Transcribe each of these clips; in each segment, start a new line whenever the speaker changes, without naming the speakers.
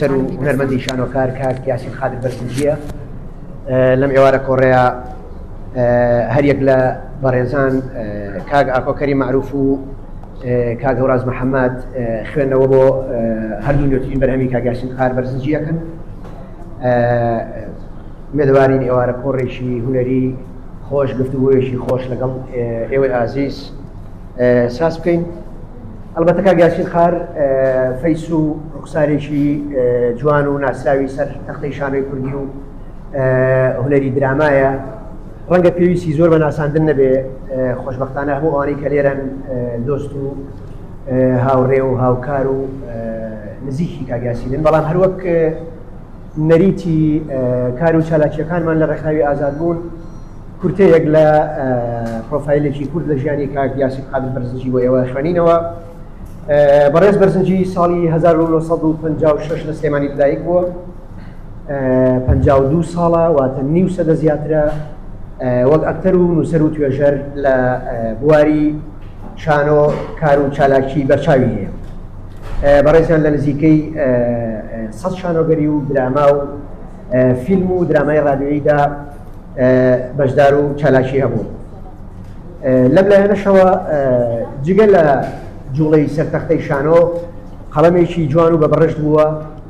نووسەر و هونەرمەندی شانۆکار کاک یاسین قادر بەرزنجییە لەم ئێوارە کۆڕەیە هەریەک لە بەڕێزان کاک ئاکۆکەری معروف و کاک هەوراز محەممەد خوێندنەوە بۆ هەردوو نوێترین بەرهەمی کاگاسین قار بەرزنجیەکەن مێدوارین ئێوارە کۆڕێکی هوەری خۆش گفتوگوۆیەکی خۆش لەگەڵ ئێوەی ئازیز ساز بکەین ئەڵبەتە کاک یاسین خار فەیس و ڕوخسارێکی جوان و ناسراوی سەر تەختەی شانۆی کوردی و هونەری درامایە ڕەنگە پێویستی زۆر بە ناساندن نەبێ خۆشببختانە هەموو ئەوانی کە لێرەن دۆست و هاوڕێ و هاوکار و نزیکی کاگاسیدن بەڵام هەروەک نەریتی کار و چالاکییەکانمان لە ڕێکخراوی ئازادبوون کورتەیەک لە پرۆفایلێکی کورت لە ژیانی کاک یاسین قادر بەرزنجی بۆ ئێوە خوێنینەوە. بەڕێز بەرزنجی ساڵی 1956 لە سلێمانی لەدایک بووە، 52 ساڵە واتە نیو سەدە زیاترە وەک ئەکتەر و نووسەر و توێژەر لە بواری شانۆ کار و چالاکی بەرچاوی هەیە. بەڕێزیان لە نزیکەی سەد شانۆگەری و دراما و فیلم و درامای ڕادیۆییدا بەشدار و چالاکی هەبوو. لەم لایەنەشەوە جگە لە جوڵەی سەرتەختەی شانۆ قەڵەمێکی جوان و بە بڕشت بووە،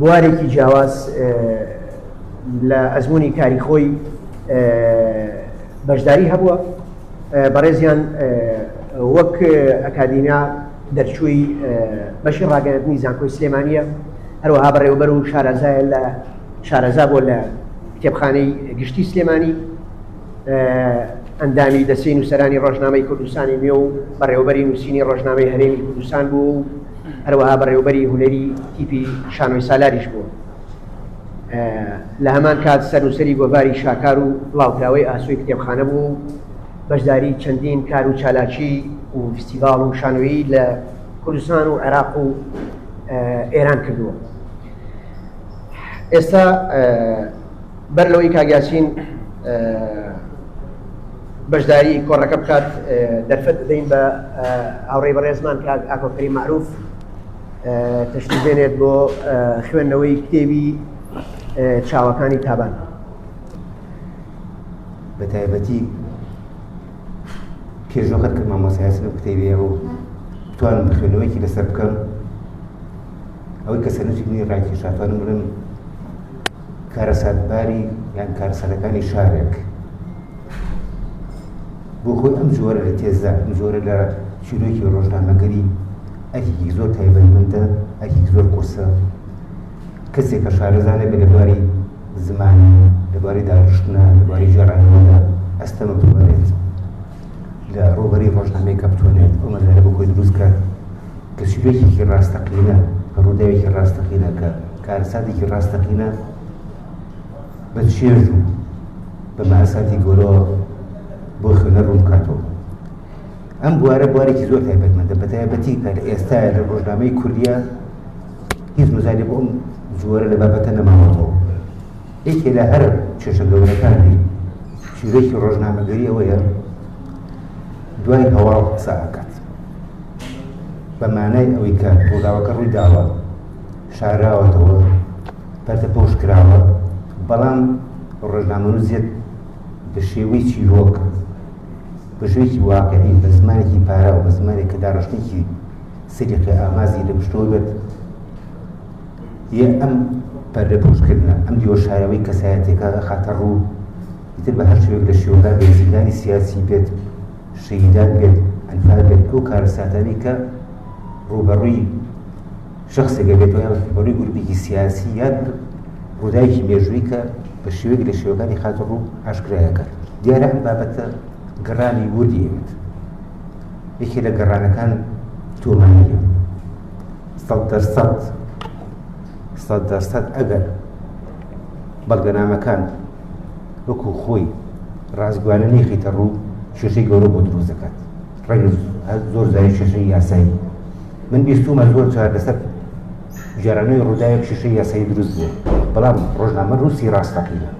بوارێکی جیاواز لە ئەزمونی کاری خۆی بەشداری هەبووە بەڕێزیان وەک ئەکادیمیا دەرچووی بەشی ڕاگەندنی زانکۆی سلێمانە هەروەها بەڕێوبەر و شارەزایە لە شارەزا بۆ لە کتێبخانەی گشتی سلێمانی ئەندامی دەستی نووسەرانی ڕۆژنامەی کوردستانی نوێ و بەڕێوبەری نووسینی ڕۆژنامەی هەرێمی کوردستان بوو هەروەها بەڕێوەبەری هونەری تیپی شانۆی سالاریش بووە. لە هەمان کات سەرنووسەری گۆڤاری شاکار و بڵاوکراوەی ئاسۆی کتێبخانە بووە و بەشداری چەندین کار و چالاکی و فستیڤاڵ و شانۆیی لە کوردستان و عێراق و ئێران کردووە. ئێستا. بەر لەوەی کاک یاسین بەشداری کۆڕەکە بکات دەرفەت بدەین بە هاوڕێی بەڕێزمان کاک ئاکۆکەری معروف تشتی بێنێت بۆ خوێندنەوەی کتێبی چاوەکانی تابان
بە تایبەتی کێژۆخەت کە مامۆسایسن و کتێبێ و توانم بخوێنەوەیکی لەسەر بکەم ئەوەی کە سەرنجی منی ڕاکێشاتوانم بڵێم کارەساتباری یان کارەساتەکانی شارێک بۆ خۆی ئەم جۆرە لە تێزدا ئەم جۆرە لە چیرۆکی ڕۆژنامەگەری ئەکێکی زۆر تایبەتمەندە ئەکێک زۆر قورسە کەسێک کە شارەزانە بە لەباری زمانی لەباری داڕشتنە لەباری جێڕانەوەدا ئەستەمە ببارێت لە ڕووبەری ڕۆژنامەی کەپتۆنێت ئەو مەزارە بۆ خۆی دروست کرد کە سوودێکی ڕاستەقینە کە ڕووداوێکی ڕاستەقینە کە کارساتێکی ڕاستەقینە بە چێژ و بە ماساتی گۆرەوە بۆ خوێنە ڕوون بکاتەوە ئەم بوارە بوارێکی زۆر تایبەتمەندە بە تایبەتی کە ئێستا لە ڕۆژنامەی کوردیا هیچ مزاری بۆ ئەم جووەرە لە بابەتە نەماوەتەوە یەکێ لە هەرە کێشە گەورەکانی چیرۆکی ڕۆژنامەگەری ئەوەیە دوای هەواڵ قسە ئەکات بە مانای ئەوەی کە ڕووداوەکە ڕووی داوە شاراوەتەوە پەرتە پۆش کراوە بەڵام ڕۆژنامەنووسێت بە شێوەی چیرۆک بە شوێکی واقعی بە زمانێکی پارە و بە زمانێک کە داڕشتێکی سریقی ئامازی لە پشتەوە بێت یە ئەم پەردە پوشکردنە ئەم دیوە شارەوەی کەسایەتێکە خاتە ڕوو ئیتر بە هەر شوێک لە شێوەکان بێت زیندانی سیاسی بێت شەیدان بێت ئەنفال بێت ئەو کارەساتانی کە ڕوبەڕووی شخصێکە بێت یان ڕوبەڕووی گروپێکی سیاسی یان ڕووداوێکی مێژووی کە بە شێوەیەک لە شێوەکانی خاتە ڕوو ئاشکرایەکە دیارە ئەم بابەتە گەڕانی وردی ئەوێت یەکێ لە گەڕانەکان تۆمانیە سەد دەر سەد سەد دەر سەد ئەگەر بەڵگەنامەکان وەکو خۆی ڕازگویانە نیخیتە ڕوو شێشەی گەورە بۆ دروست دەکات ڕێک زۆر زای شێشەی یاسایی من بیستومە زۆر جار لەسەر جارانەوەی ڕووداوێک شێشەی یاسایی دروست بوو بەڵام ڕۆژنامە رووسی ڕاستەقینە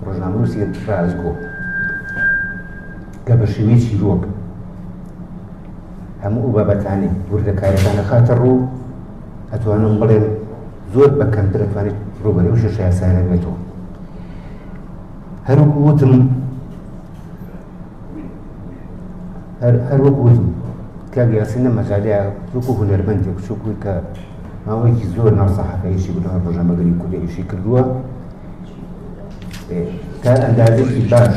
ڕۆژنامە رووسی ڕازگۆ کە بە شێوەیەکی ڕۆک هەموو ئەو بابەتانی وردەکاریەکان نەخاتە ڕوو ئەتوانم بڵێم زۆر بە کەمتر ئەتوانیت ڕوبەری و شێشە یاسایانە بێتەوە هەروکو وتم هەروەک وتم کاک یاسین لە مەجالیا وەکو هونەرمەندی بچووکوی کە ماوەیەکی زۆر ناو سەحەکەیشی بنەوە ڕۆژەمەگەری کوردێکیشی کردووە تا ئەندازێکی باش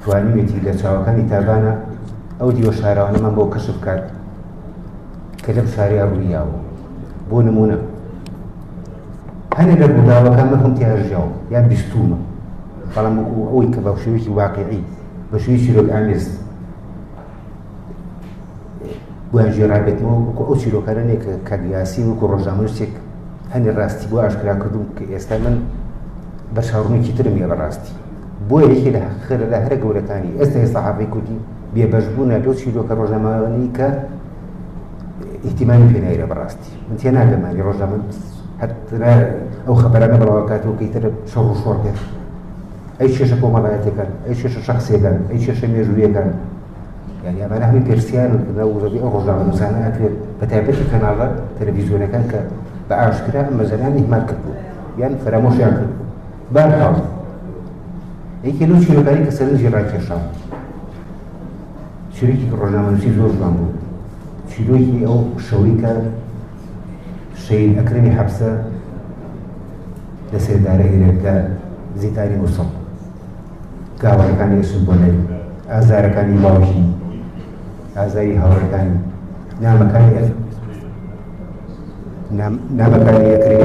توانیوێتی لە چاوەکانی تابانە ئەو دیوە شاراوانەمان بۆ کەشف بکات کە لەم شاریا ڕوویاوە بۆ نمونە هەنێک لە ڕووداوەکان من خۆم تیاژیاوە یان بیستومە بەڵام وەکو ئەوەی کە بە شێوەیەکی واقعی بە شوی چیرۆک ئامێز بۆیان ژێڕابێتەوە وەکو ئەو چیرۆکانەیە کە کاگیاسی وەکو ڕۆژنامەنووسێک هەنێ ڕاستی بۆ ئاشکرا کردوم کە ئێستا من بە چاڕوونێکی ترم یە بەڕاستی بۆ یەکێکی لە خێرەدا هەرە گەورەکانی ئێستای سەحافەی کوردی بێبەش بوون لە لەو چیرۆکە ڕۆژنامەوانی کە ئیحتیمانی پێنایرە بەڕاستی من تێ ناگەمانی ڕۆژنامە هەترە ئەو خەبەرانە بڵاوکاتەوە کەی تر شەڕ و شۆڕ بێت ئەی شێشە کۆمەڵایەتەکان ئەی شێشە شخصیەکان ئەی شێشە مێژوویەکان یعنی ئەمانە هەمی پرسیار و کردە وزەبی ئەو ڕۆژنامە نووسانە ئەتوێت بە تایبەتی کەناڵە تەلەڤیزیۆنەکان کە بە ئاشکرا مەزەرانی همان کردو یان فەرامۆشیان کردو بارهاو یەکێ لەو چیرۆکانی کە سەرنجی ڕاکێشا چیرۆکی ڕۆژنامەنووسی زۆر جوان بوو چیرۆکی ئەو شەوەی کە شەید ئەکرمی حەبسە لە سێدارە هێنێت لە زیتاری مووسڵ گاوەکانی ئەسون بۆ لای ئازارەکانی باوکی ئازاری هاوڕەکانی نامەکانی نامەکانی ئەکرێت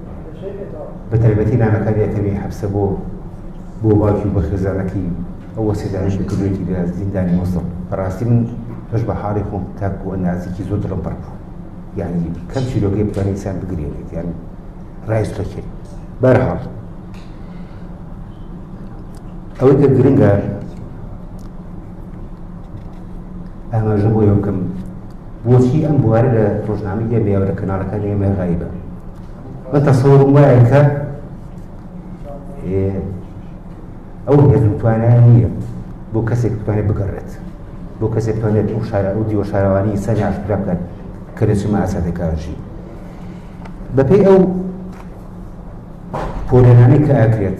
بە تایبەتی نامەکانی ئەتەمی حەبسە بۆ بۆ باوکی و بەخێزانەکەی ئەوە سێدانش بکردێتی لە زیندانی مۆسڵ بەڕاستی من پش بە حاڵی خۆم تاکو ئەنازیکی زۆر دڵم پڕ بوو یعنی کەم چیرۆگەی بتوانین سان بگرێنێت یان ڕایستۆکێت بەرهاڵ ئەوەی کە گرنگە ئاماژە بۆ یەوە بکەم بۆچی ئەم بوارە لە ڕۆژنامەی ئێمەیە و لە کەناڵەکانی ئێمە غایبە من تەسەوەرم وایە کە ئەو هێز و توانایان نییە بۆ کەسێک بتوانێت بگەڕێت بۆ کەسێک بتوانێت ئەو شارە ئەو دیوە شارەوانی سەری ئاشکرا بکات کە لە چما ئاسادەکارژی بەپێی ئەو پۆلێنانەی کە ئاکرێت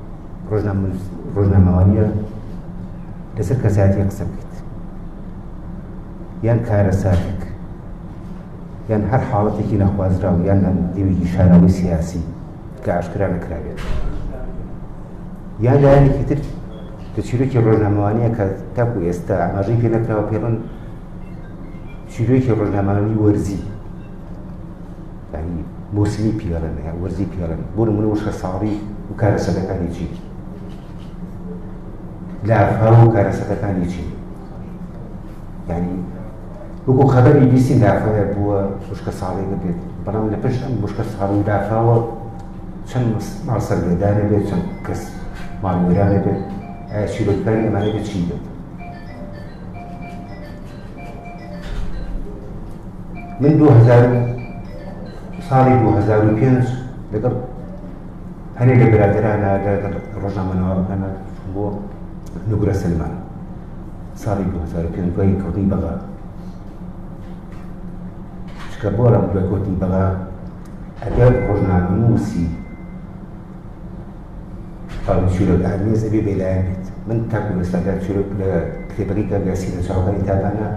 ڕۆژنامەنووس ڕۆژنامەوانییە لەسەر کەسایەتی قسە بکەیت یان کارەساتێک یان هەر حاڵەتێکی نەخوازراو یان دیوێکی شاراوی سیاسی کە ئاشکرا نەکرابێت یان لایەنێکی تر کە چیرۆکی ڕۆژنامەوانیە کە تاکو ئێستا ئاماژەی پێ نەکراوە پێڵن چیرۆکی ڕۆژنامەوانی وەرزی یعنی بورسلی پیرن یا ورزی پیرن بۆ نمونە وشکە ساڕی و کارەسەتەکانی چی لافا و کارەسەتەکانی چی یعنی وەکو خەبەری بیستی لافاوە بووە وشکە ساڵی نەبێت بەڵام لە پێش ئەم وشکە ساڵی و لافاوە چەند ماڵ سەرگەدانە بێت چەند کەس ماڵوێرانە بێت ئایا چیرۆکەکانی ئەمانە بێت چی بێت من دو هەزار و ساڵی دو هەزار و پێنج لەگەڵ هەنێ لە برادرانە لەگەڵ ڕۆژنامەنەوەکانە بۆ نوگرە سلمان ساڵی دو هەزار و پێنج دوای کەوتنی بەغا شکە بۆ ڕەم دوای کەوتنی بەغا ئەگەر ڕۆژنامەنووسی تاوەری چیرۆک ئامێز ئەبێ بێلایەن بێت من تاکو ئێستادا چیرۆک لە کتێبەکەی کاگاسی لە چاوەکانی تابانە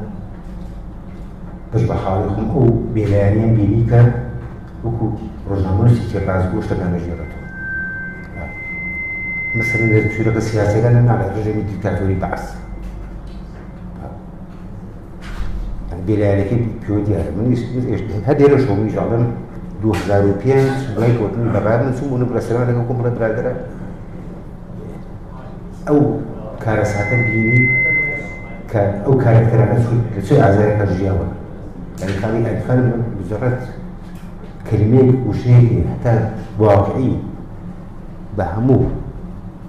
پش بە حاڵی خۆم ئەو بێلایەنیان بینی کە وەکو ڕۆژنامەنووسی کێپاز بۆ شتەکان دەژێڕێتەوە مثلا لە چیرۆکە سیاسەکان ناڵێ ڕژێمی دیکتاتۆری بەعس یعنی بێلایەنەکەی پێوە دیارە من هەر دێرە شۆ منیش ئەڵێم 2005 دوای کۆتنی بەغار من چوم بوونم ڕێستۆران لەگەڵ کۆم بڵێ برادەرە ئەو کارەساتە بینی کە ئەو کارەکتەرانە چوون لە چه ئازارێکە ژیاوە یعنی خاڵی ئەلفان مجرد کلمەیەک وشەیەکی هەتا واقعی بە هەموو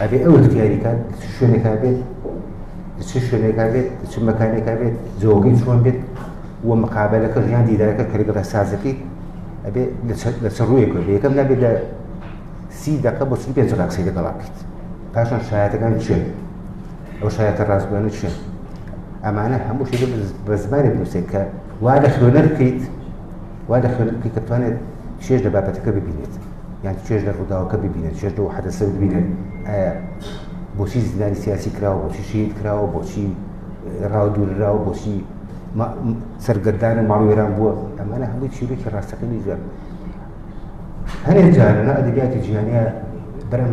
ئەبێ ئەو اختیاریکان شوێنێکا بێت چ شوێنێکا بێت چ مەکانێکا بێت جۆگەی چۆن بێت و مقابلەکە ژیان دیدارەکە کە لەگەڵ سازەکەی ئەبێ لە چ ڕوویەکە بێ یەکەم نابێت لە سی دقە بۆ سی پێنج قسەی لەگەڵا بکەیت پاشان شایەتەکان چێن ئەو شایەتە ڕاستگویانە چێن ئەمانە هەموو شێ بە زمانی بنووسێت کە وا لە خوێنەر بکەیت وا دەخوێنم کە بتوانێت چێژ لە بابەتەکە ببینێت یان چێژ لە ڕووداوەکە ببینێت چێژ لەەوە حەدەسە ببینێت بۆچی زیندانی سیاسی کراوە بۆچی شید کراوە بۆچی ڕاو دوورراوە بۆچی سەرگەردان و ماڵوێران بووە ئەمانە هەمووی چیرێکی ڕاستەکەنی جوێن هەرێ جارە ئەدەبیاتی جیهانە بەرم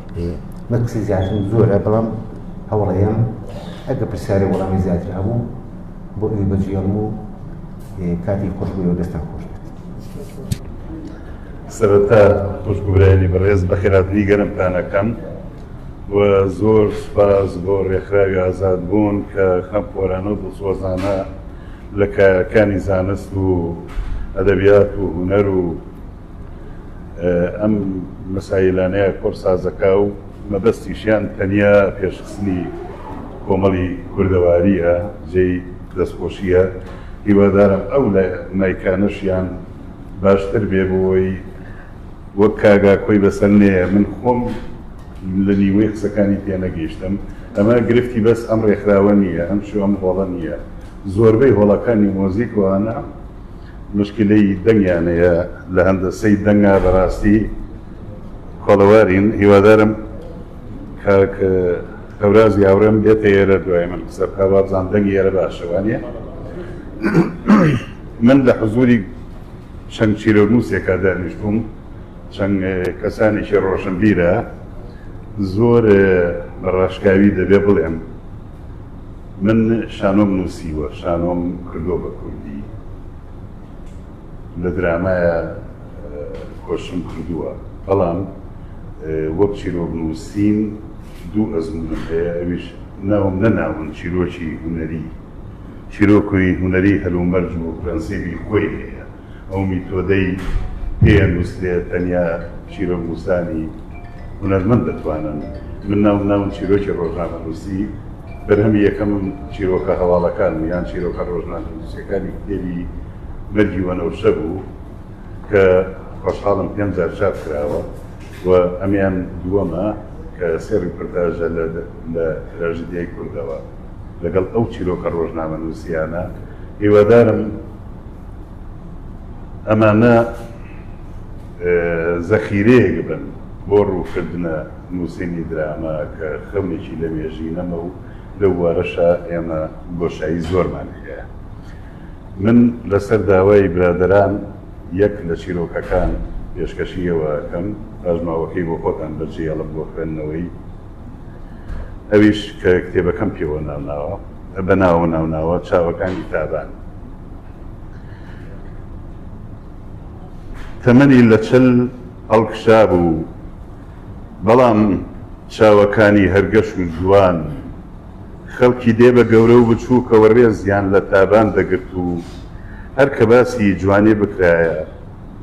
مەترسی زیاترم زۆرە بەڵام هەوڵەیەم ئەگە پرسیارە وەڵامی زیاتر هەبوو بۆ ئەوی بەجێڵم و کاتی خۆشبووەوە دەستان خۆش بێت
سەرەتا خوشگورانی بەڕێز بەخێراتنی گەرمتانەکەم و زۆر سپاس بۆ ڕێکخراوی ئازاد بوون کە خەم خۆرانە و دڵسۆزانە لە کارەکانی زانست و ئەدەبیات و هوەر و ئەم مەسایلانەیە کۆرسازەکە و مەبەستیشیان تەنیا پێشخستنی کۆمەڵی کوردەواریە جێی دەستخۆشیە هیوادارم ئەو مایکانەشیان باشتر بێ بۆی وەک کاگا کۆی بەسەر نێە من خۆم لە نیوەی قسەکانی تێنەگەیشتم ئەمە گرفتی بەس ئەم ڕێکخراوە نییە ئەم شو ئەم هۆڵە نییە زۆربەی هۆڵەکانی مۆزیک وانە موشکیلەی دەنگیان هەیە لە هەندەسەی دەنگا بەراستی کۆڵەوارین هیوادارم کاک هەورازی هاوڕێم بێتە ئێرە دوای من قسە بکە وابزان دەنگی ئێرە باشە وانە من لە حزوری چەند چیرۆنووسێکا دانیشتوم چەند کەسانێکی ڕۆشنبیرە زۆر بەڕاشکاوی دەبێ بڵێم من شانۆم نووسیوە شانۆم کردووە بە کوردی لە درامایە کۆشم کردووە بەڵام وەک چیرۆک نووسین دوو ئەزمونم هەیە ئەویش ناوم نەناون چیرۆکی هوەری چیرۆکوی هوەری هەلومەرج و پرەنسیبی خۆی هەیە ئەو میتۆدەی پێیە نووسرێت تەنیا چیرۆکنووسانی هونەرمەند دەتوانن. من ناوم ناون چیرۆکی ڕۆژنامەنووسی، بەرهەمی یەکەمم چیرۆکە هەواڵەکانم یان چیرۆکە ڕۆژنامەنووسییەکانی کتێبی مەرگی وەنەوشە بوو کە خۆشحاڵم پێنج جار چاپ کراوە و ئەمەیان دووەمە کە سێ ڕیپۆرتاژە لە تراژیدیای کوردەوە لەگەڵ ئەو چیرۆکە ڕۆژنامەنووسییانە. هیوادارم. ئەمانە زەخیرەیەک بن بۆ ڕووکردنە نووسینی دراما کە خەونێکی لەمێژینەمە و لەو بوارەشا ئێمە بۆشایی زۆرمان هەیە. من لەسەر داوای برادەران یەک لە چیرۆکەکان پێشکەشی ئێوە ئەکەم، پاشماوەکەی بۆ خۆتان بەجێهێڵن بۆ خوێندنەوەی، ئەویش کە کتێبەکەم پێوە ناوناوە، بە ناوە ناوناوە، چاوەکانی تابان. تەمەنی لە چل هەڵکشابوو، بەڵام چاوەکانی هەر گەش و جوان، خەڵکی دێ بە گەورە و بچووکەوە ڕێزیان لە تابان دەگرت و هەر کە باسی جوانی بکرایە،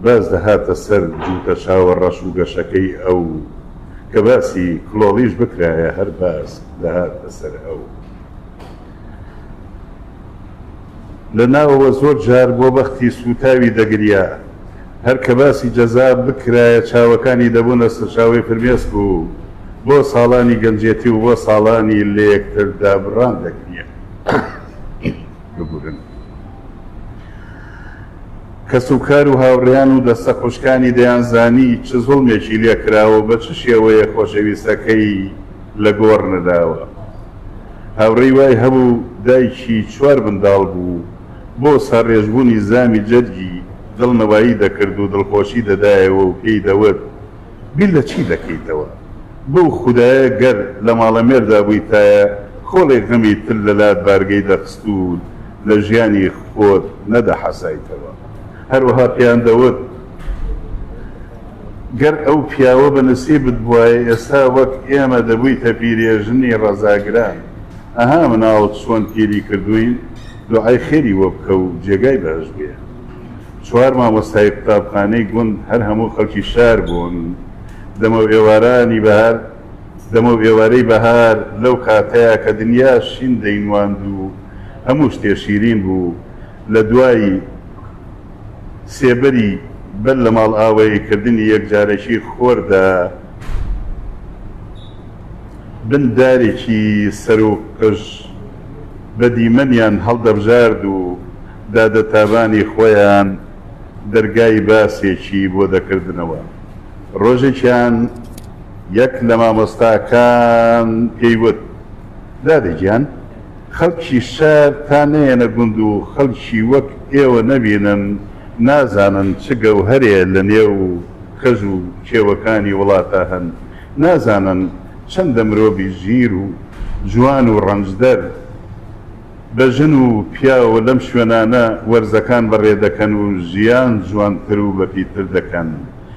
باس دەهاتە سەر جووتە چاوە ڕەش و گەشەکەی ئەو، کە باسی کڵۆڵیش بکرایە هەر باس دەهاتە سەر ئەو. لە ناوەوە زۆر جار بۆ بەختی سووتاوی دەگریا. هەر کە باسی جەزا بکرایە چاوەکانی دەبوونە سەرچاوەی فرمێسک و بۆ ساڵانی گەنجێتی و بۆ ساڵانی لەیەکتر دابڕان دەگریا. ببورن. کەس و کار و هاوڕێیان و دەستە خوشکانی دەیانزانی چ زوڵمێکی لێ کراوە و بە چ شێوەیەک خۆشەویستەکەی لە گۆڕ نراوە. هاوڕێی وای هەبوو دایکی چوار منداڵ بوو، بۆ ساڕێژبوونی زامی جەرگی دڵنەوایی دەکرد و دڵخۆشی دەدایەوە و پێی دەوت، بیر لە چی دەکەیتەوە؟ بەو خودایە گەر لە ماڵەمێردا بوویتایە، کۆڵێک غەمی تر لە لات بارگەی دەخست و لە ژیانی خۆت نەدەحەسایتەوە. هەروەها پێیان دەوت، گەر ئەو پیاوە بە نسیبت بوایە ئێستا وەک ئێمە دەبویتە پیرێژنی ڕەزا گران ئەها مناڵت چۆن پیری کردوین دوعای خێری بۆ بکە و جێگای بەهەشت بێ چوار مامۆستای قوتابخانەی گوند هەر هەموو خەڵکی شار بوون دەمەو ئێوارانی بەهار دەمەو ئێوارەی بەهار لەو کاتەیا کە دنیا شین دەینواند و هەموو شتێ شیرین بوو لە دوای سێبەری بەر لە ماڵئاواییکردنی یەکجارەکی خۆردا، بن دارێکی سەروو قژ بە دیمەنیان هەڵدەبژارد و دادە تابانی خۆیان دەرگای باسێکی بۆ دەکردنەوە. ڕۆژێکیان یەک لە مامۆستاکان پێی وت، دادە گیان! خەڵکی شار تا نەیەنە گوند و خەڵکی وەک ئێوە نەبینن، نازانن چ گەوهەرێ لە نێو کەژ و کێوەکانی وڵاتا هەن، نازانن چەندە مرۆڤی ژیر و جوان و ڕەنجدەر بە ژن و پیاو لەم شوێنانە وەرزەکان بەڕێ دەکەن و ژیان جوانتر و بەپیتر دەکەن.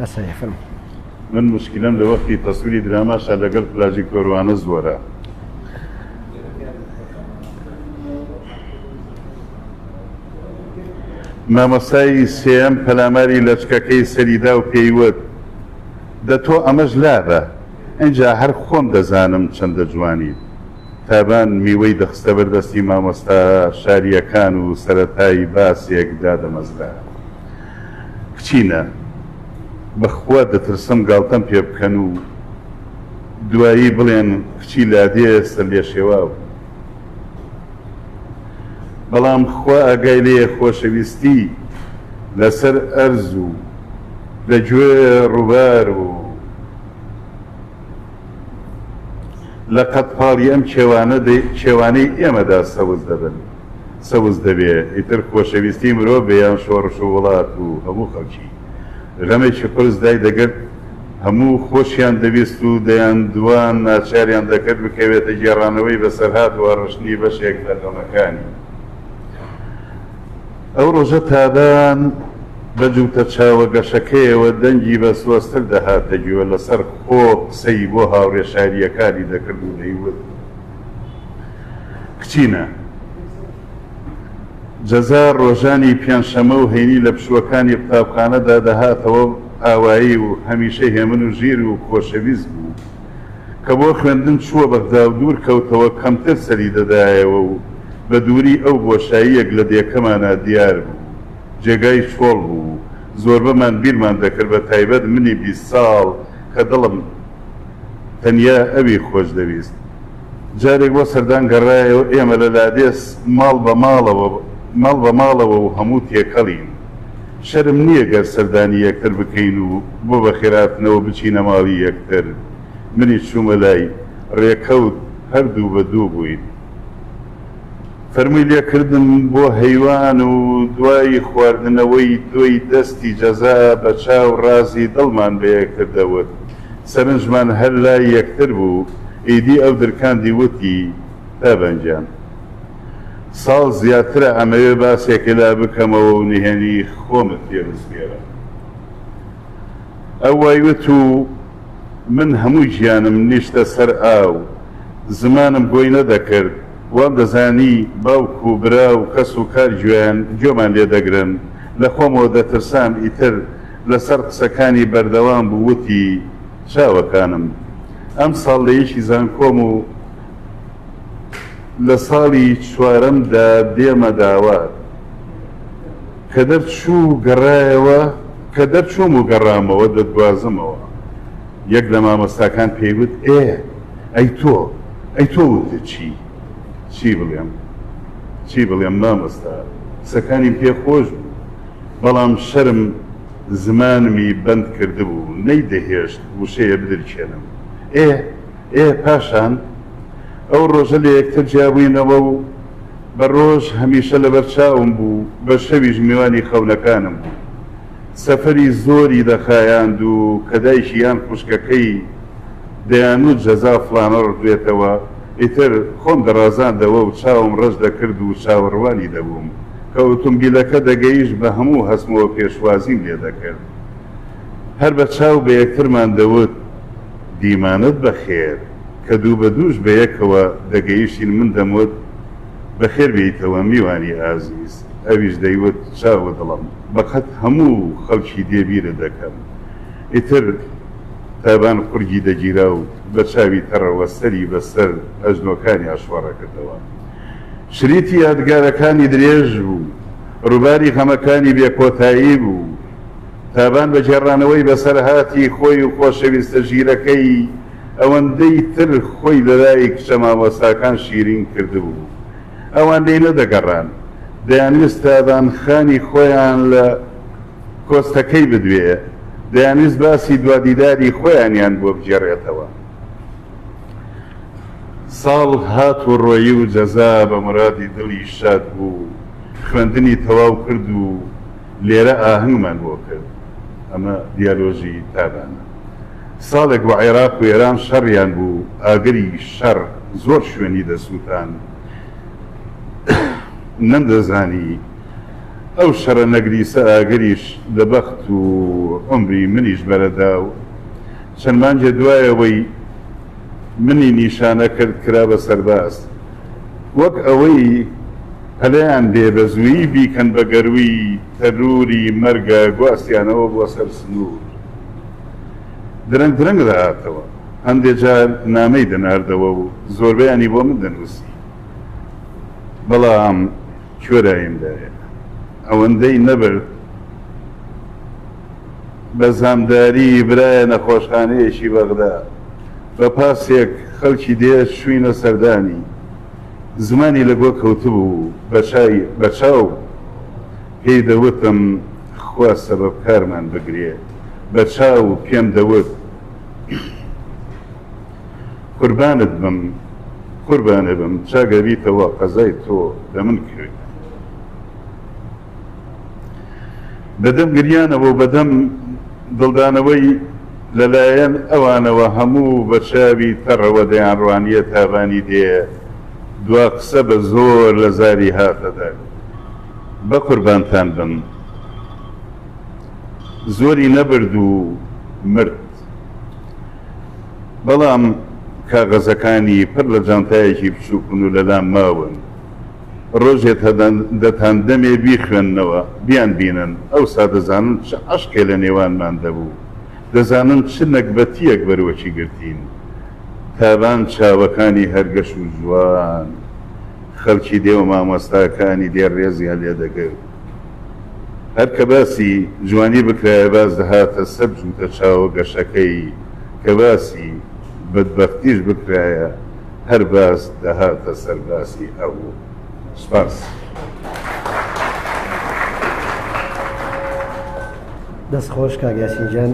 ئەسەیفم. من موشکیلەم لە وەختی تەسویری دراماشا لەگەل پلاجیکتۆر وانە زۆرە. مامۆستای سێیەم پەلاماری لەچکەکەی سەری دا و پێی وت، دە تۆ ئەمەش لابە! ئینجا هەر خۆم دەزانم چەندە جوانی. تابان میوەی دەخستە بەر دەستی مامۆستا شارییەکان و سەرەتای باسێک دادەمەزرا. کچینە بەخوا دەترسم گاڵتەم پێ بکەن و دوایی بڵێن کچی لادێ سەرلێشێوا بوو بەڵام خوا ئاگای لێیە خۆشەویستی لەسەر ئەرز و لە گوێ ڕووبار و لە قەدپاڵی ئەم کێوانەی ئێمەدا سەوز دەبن سەوز دەبێ ئیتر خۆشەویستی مرۆڤ بێ یان شۆڕش و وڵات و هەموو خەڵکی غەمێکی قورس دای دەگرت هەموو خۆشیان دەویست و دەیان دوان ناچاریان دەکرد بکەوێتە گێڕانەوەی بەسەرهات و هەڕشتنی بەشێک لە غەمەکانی ئەو ڕۆژە تابان بە جووتە چاوە گەشەکەیەوە دەنگی بە سۆزتر دەهاتە گوێ لەسەر خۆ قسەی بۆ هاوڕێ شارییەکانی دەکرد و دەیوت. کچینە جەزا ڕۆژانی پێنجشەمە و هەینی لە پشووەکانی قوتابخانەدا دەهاتەوە ئاوایی و هەمیشە هێمن و ژیر و خۆشەویست بوو کە بۆ خوێندن چووە بەغدا و دوور کەوتەوە کەمتر سەری دەدایەوە و بە دووری ئەو بۆشاییەک لە دێکەمانا دیار بوو جێگای چۆڵ بوو زۆربەمان بیرمان دەکرد بە تایبەت منی بیست ساڵ کە دڵم تەنیا ئەوی خۆش دەویست. جارێک بۆ سەردان گەڕایەوە، ئێمە لە لادێس ماڵ بە ماڵەوە ماڵ بە ماڵەوە و هەموو تێکەڵین. شەرم نییە گەر سەردانی یەکتر بکەین و بۆ بەخێرهاتنەوە بچینە ماڵی یەکتر. منیش چوومە لای. رێکەوت هەر دوو بە دوو بووین. فەرمووی لێ کردم بۆ هەیوان و دوای خواردنەوەی دۆی دەستی جەزا بە چاو رازی دڵمان بە یەکتر دەوت. سەرنجمان هەر لای یەکتر بوو، ئیدی ئەو درکاندی وتی، تابان گیان! ساڵ زیاترە ئەمەوێ باسێکە لا بکەمەوە و نهێنی خۆمت پێ بسپێرم. ئەو وای وت و من هەموو گیانم نیشتە سەر ئاو، زمانم گۆی نەدەکرد، وام دەزانی باوک و برا و کەس و کار گوێیان گوێمان لێ دەگرن، لە خۆمەوە دەترسام ئیتر، لەسەر قسەکانی بەردەوام بوو وتی، چاوەکانم ئەمساڵ لە یەکی زانکۆم و لە ساڵی چوارەمدا دێمە داوات، کە دەرچوو و گەڕایەوە، کە دەرچووم و گەڕامەوە دەتگوازمەوە. یەک لە مامۆستاکان پێی وت، ئێ ئەی تۆ، ئەی تۆ وتت چی؟ چی بڵێم، چی بڵێم مامۆستا، قسەکانیم پێ خۆش بوو. بەڵام شەرم زمانمی بەند کردبوو نەیدەهێشت وشەیە بدرکێنم. ئێ ئێ پاشان ئەو ڕۆژە لە یەکتر جیابووینەوە و بە ڕۆژ هەمیشە لەبەر چاوم بوو، بە شەویش میوانی خەونەکانم بوو. سەفەری زۆری دەخایاند و کە دایکی یان خوشکەکەی دەیانوت جەزا فڵانە ڕفێتەوە، ئیتر خۆم دەڕازاندەوە و چاوم ڕەش دەکرد و چاوەڕوانی دەبووم کە ئۆتۆمبیلەکە دەگەیشت بە هەموو هەستمەوە پێشوازیم لێ دەکرد هەر بە چاو بە یەکترمان دەوت دیمانەت بەخێر کە دوو بە دووش بە یەکەوە دەگەیشتین من دەموت بەخێر بێیتەوە میوانی ئازیز ئەویش دەیوت چاوو دڵم بە قەت هەموو خەڵکی دێ بیرت دەکەم ئیتر تابان قورگی دەگیرا و بە چاوی تەڕەوە سەری بە سەر ئەژنۆکانی ئاشوەڕە کردەوە. شریتی یادگارەکانی درێژ بوو. ڕووباری غەمەکانی بێ کۆتایی بوو. تابان بە گێڕانەوەی بەسەرهاتی خۆی و خۆشەویستە ژیرەکەی، ئەوەندەی تر خۆی لە لای کچە مامۆستاکان شیرین کردبوو. ئەوان لێی نەدەگەڕان. دەیانویست تابان خانی خۆیان لە. کۆستەکەی بدوێ، دەیانویست باسی دوا دیداری خۆیانیان بۆ بگێڕێتەوە. ساڵ هات و ڕۆیی و جەزا بە مورادی دڵی شاد بوو، خوێندنی تەواو کرد و لێرە ئاهەنگمان بۆ کرد. ئەمە دیالۆژی تابانە. ساڵێک بوو عێراق و ئێران شەڕیان بوو، ئاگری شەڕ زۆر شوێنی دەسووتاند. نەمدەزانی. ئەو شەڕە نەگریسە ئاگریش لە بەخت و عومری منیش بەرەدا و چەند مانگێ دوای ئەوەی منی نیشانە کرد کرا بە سەرباز وەک ئەوەی پەلیان بێ بە زوویی بیکەن بە گەرووی تەرووری مەرگا گواستیانەوە بۆ سەر سنوور درەنگ درەنگ دەهاتەوە هەندێ جار نامەی دەناردەوە و زۆربەیانی بۆ من دەنووسی بەڵام کوێرایندایە ئەوەندەی نەبرد بە زامداری برایە نەخۆشخانەیەکی بەغدا بە پاسێک خەڵکی دێ چووینە سەردانی زمانی لە گۆ کەوتبوو بە چای بە چاو پێی دەوتم خوا سەبەب کارمان بگرێ بە چاو پێم دەوت قوربانت بم قوربانێ بم چاک ئەبیتەوە قەزای تۆ لە من کرێ. بەدەم گریانەوە و بەدەم دڵدانەوەی لەلایەن ئەوانەوە هەموو بە چاوی تەڕەوە دەیان ڕوانیە تاڤانی دێ دوا قسە بە زۆر لە زاری هاتە دەر بە قوربانتان بم زۆری نەبرد و مرد بەڵام کاغەزەکانی پڕ لە جانتایەکی بچووکن و لەلام ماون. ڕۆژێ تا دەتان دەمێ بیخوێننەوە، بیانبینن، ئەوسا دەزانن چ عەشقێ لە نێوانماندا بوو، دەزانن چ نەگبەتییەک بەروەچی گرتین. تابان چاوەکانی هەر گەش و جوان خەڵکی دێ و مامۆستاکانی دێ ڕێزیان لێ دەگرت. هەر کە باسی جوانی بکرایە باز دەهاتە سەر جووتە چاوە گەشەکەی، کە باسی بەدبەختیش بکرایە هەر باز دەهاتە سەر باسی ئەو. سوپاس.
دەست خۆش کاک یاسین جان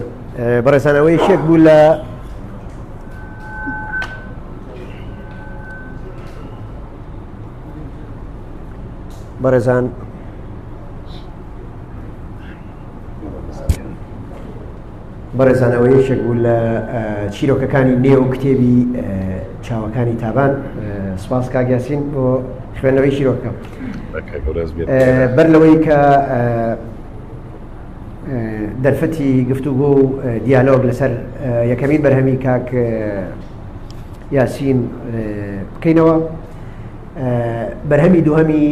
بەڕێزان ئەوە یەکێک بوو لە بەڕێزان بەڕێزانەوە یەکێک بوو لە چیرۆکەکانی نێو کتێبی چاوەکانی تابان سپاس کاگیاسین بۆ خوێنەوەی چیرۆکە بەر لەوەی کە دەرفەتی گفتوگۆ و دیالۆگ لەسەر یەکەمین بەرهەمی کاک یاسین بکەینەوە بەرهەمی دووهەمی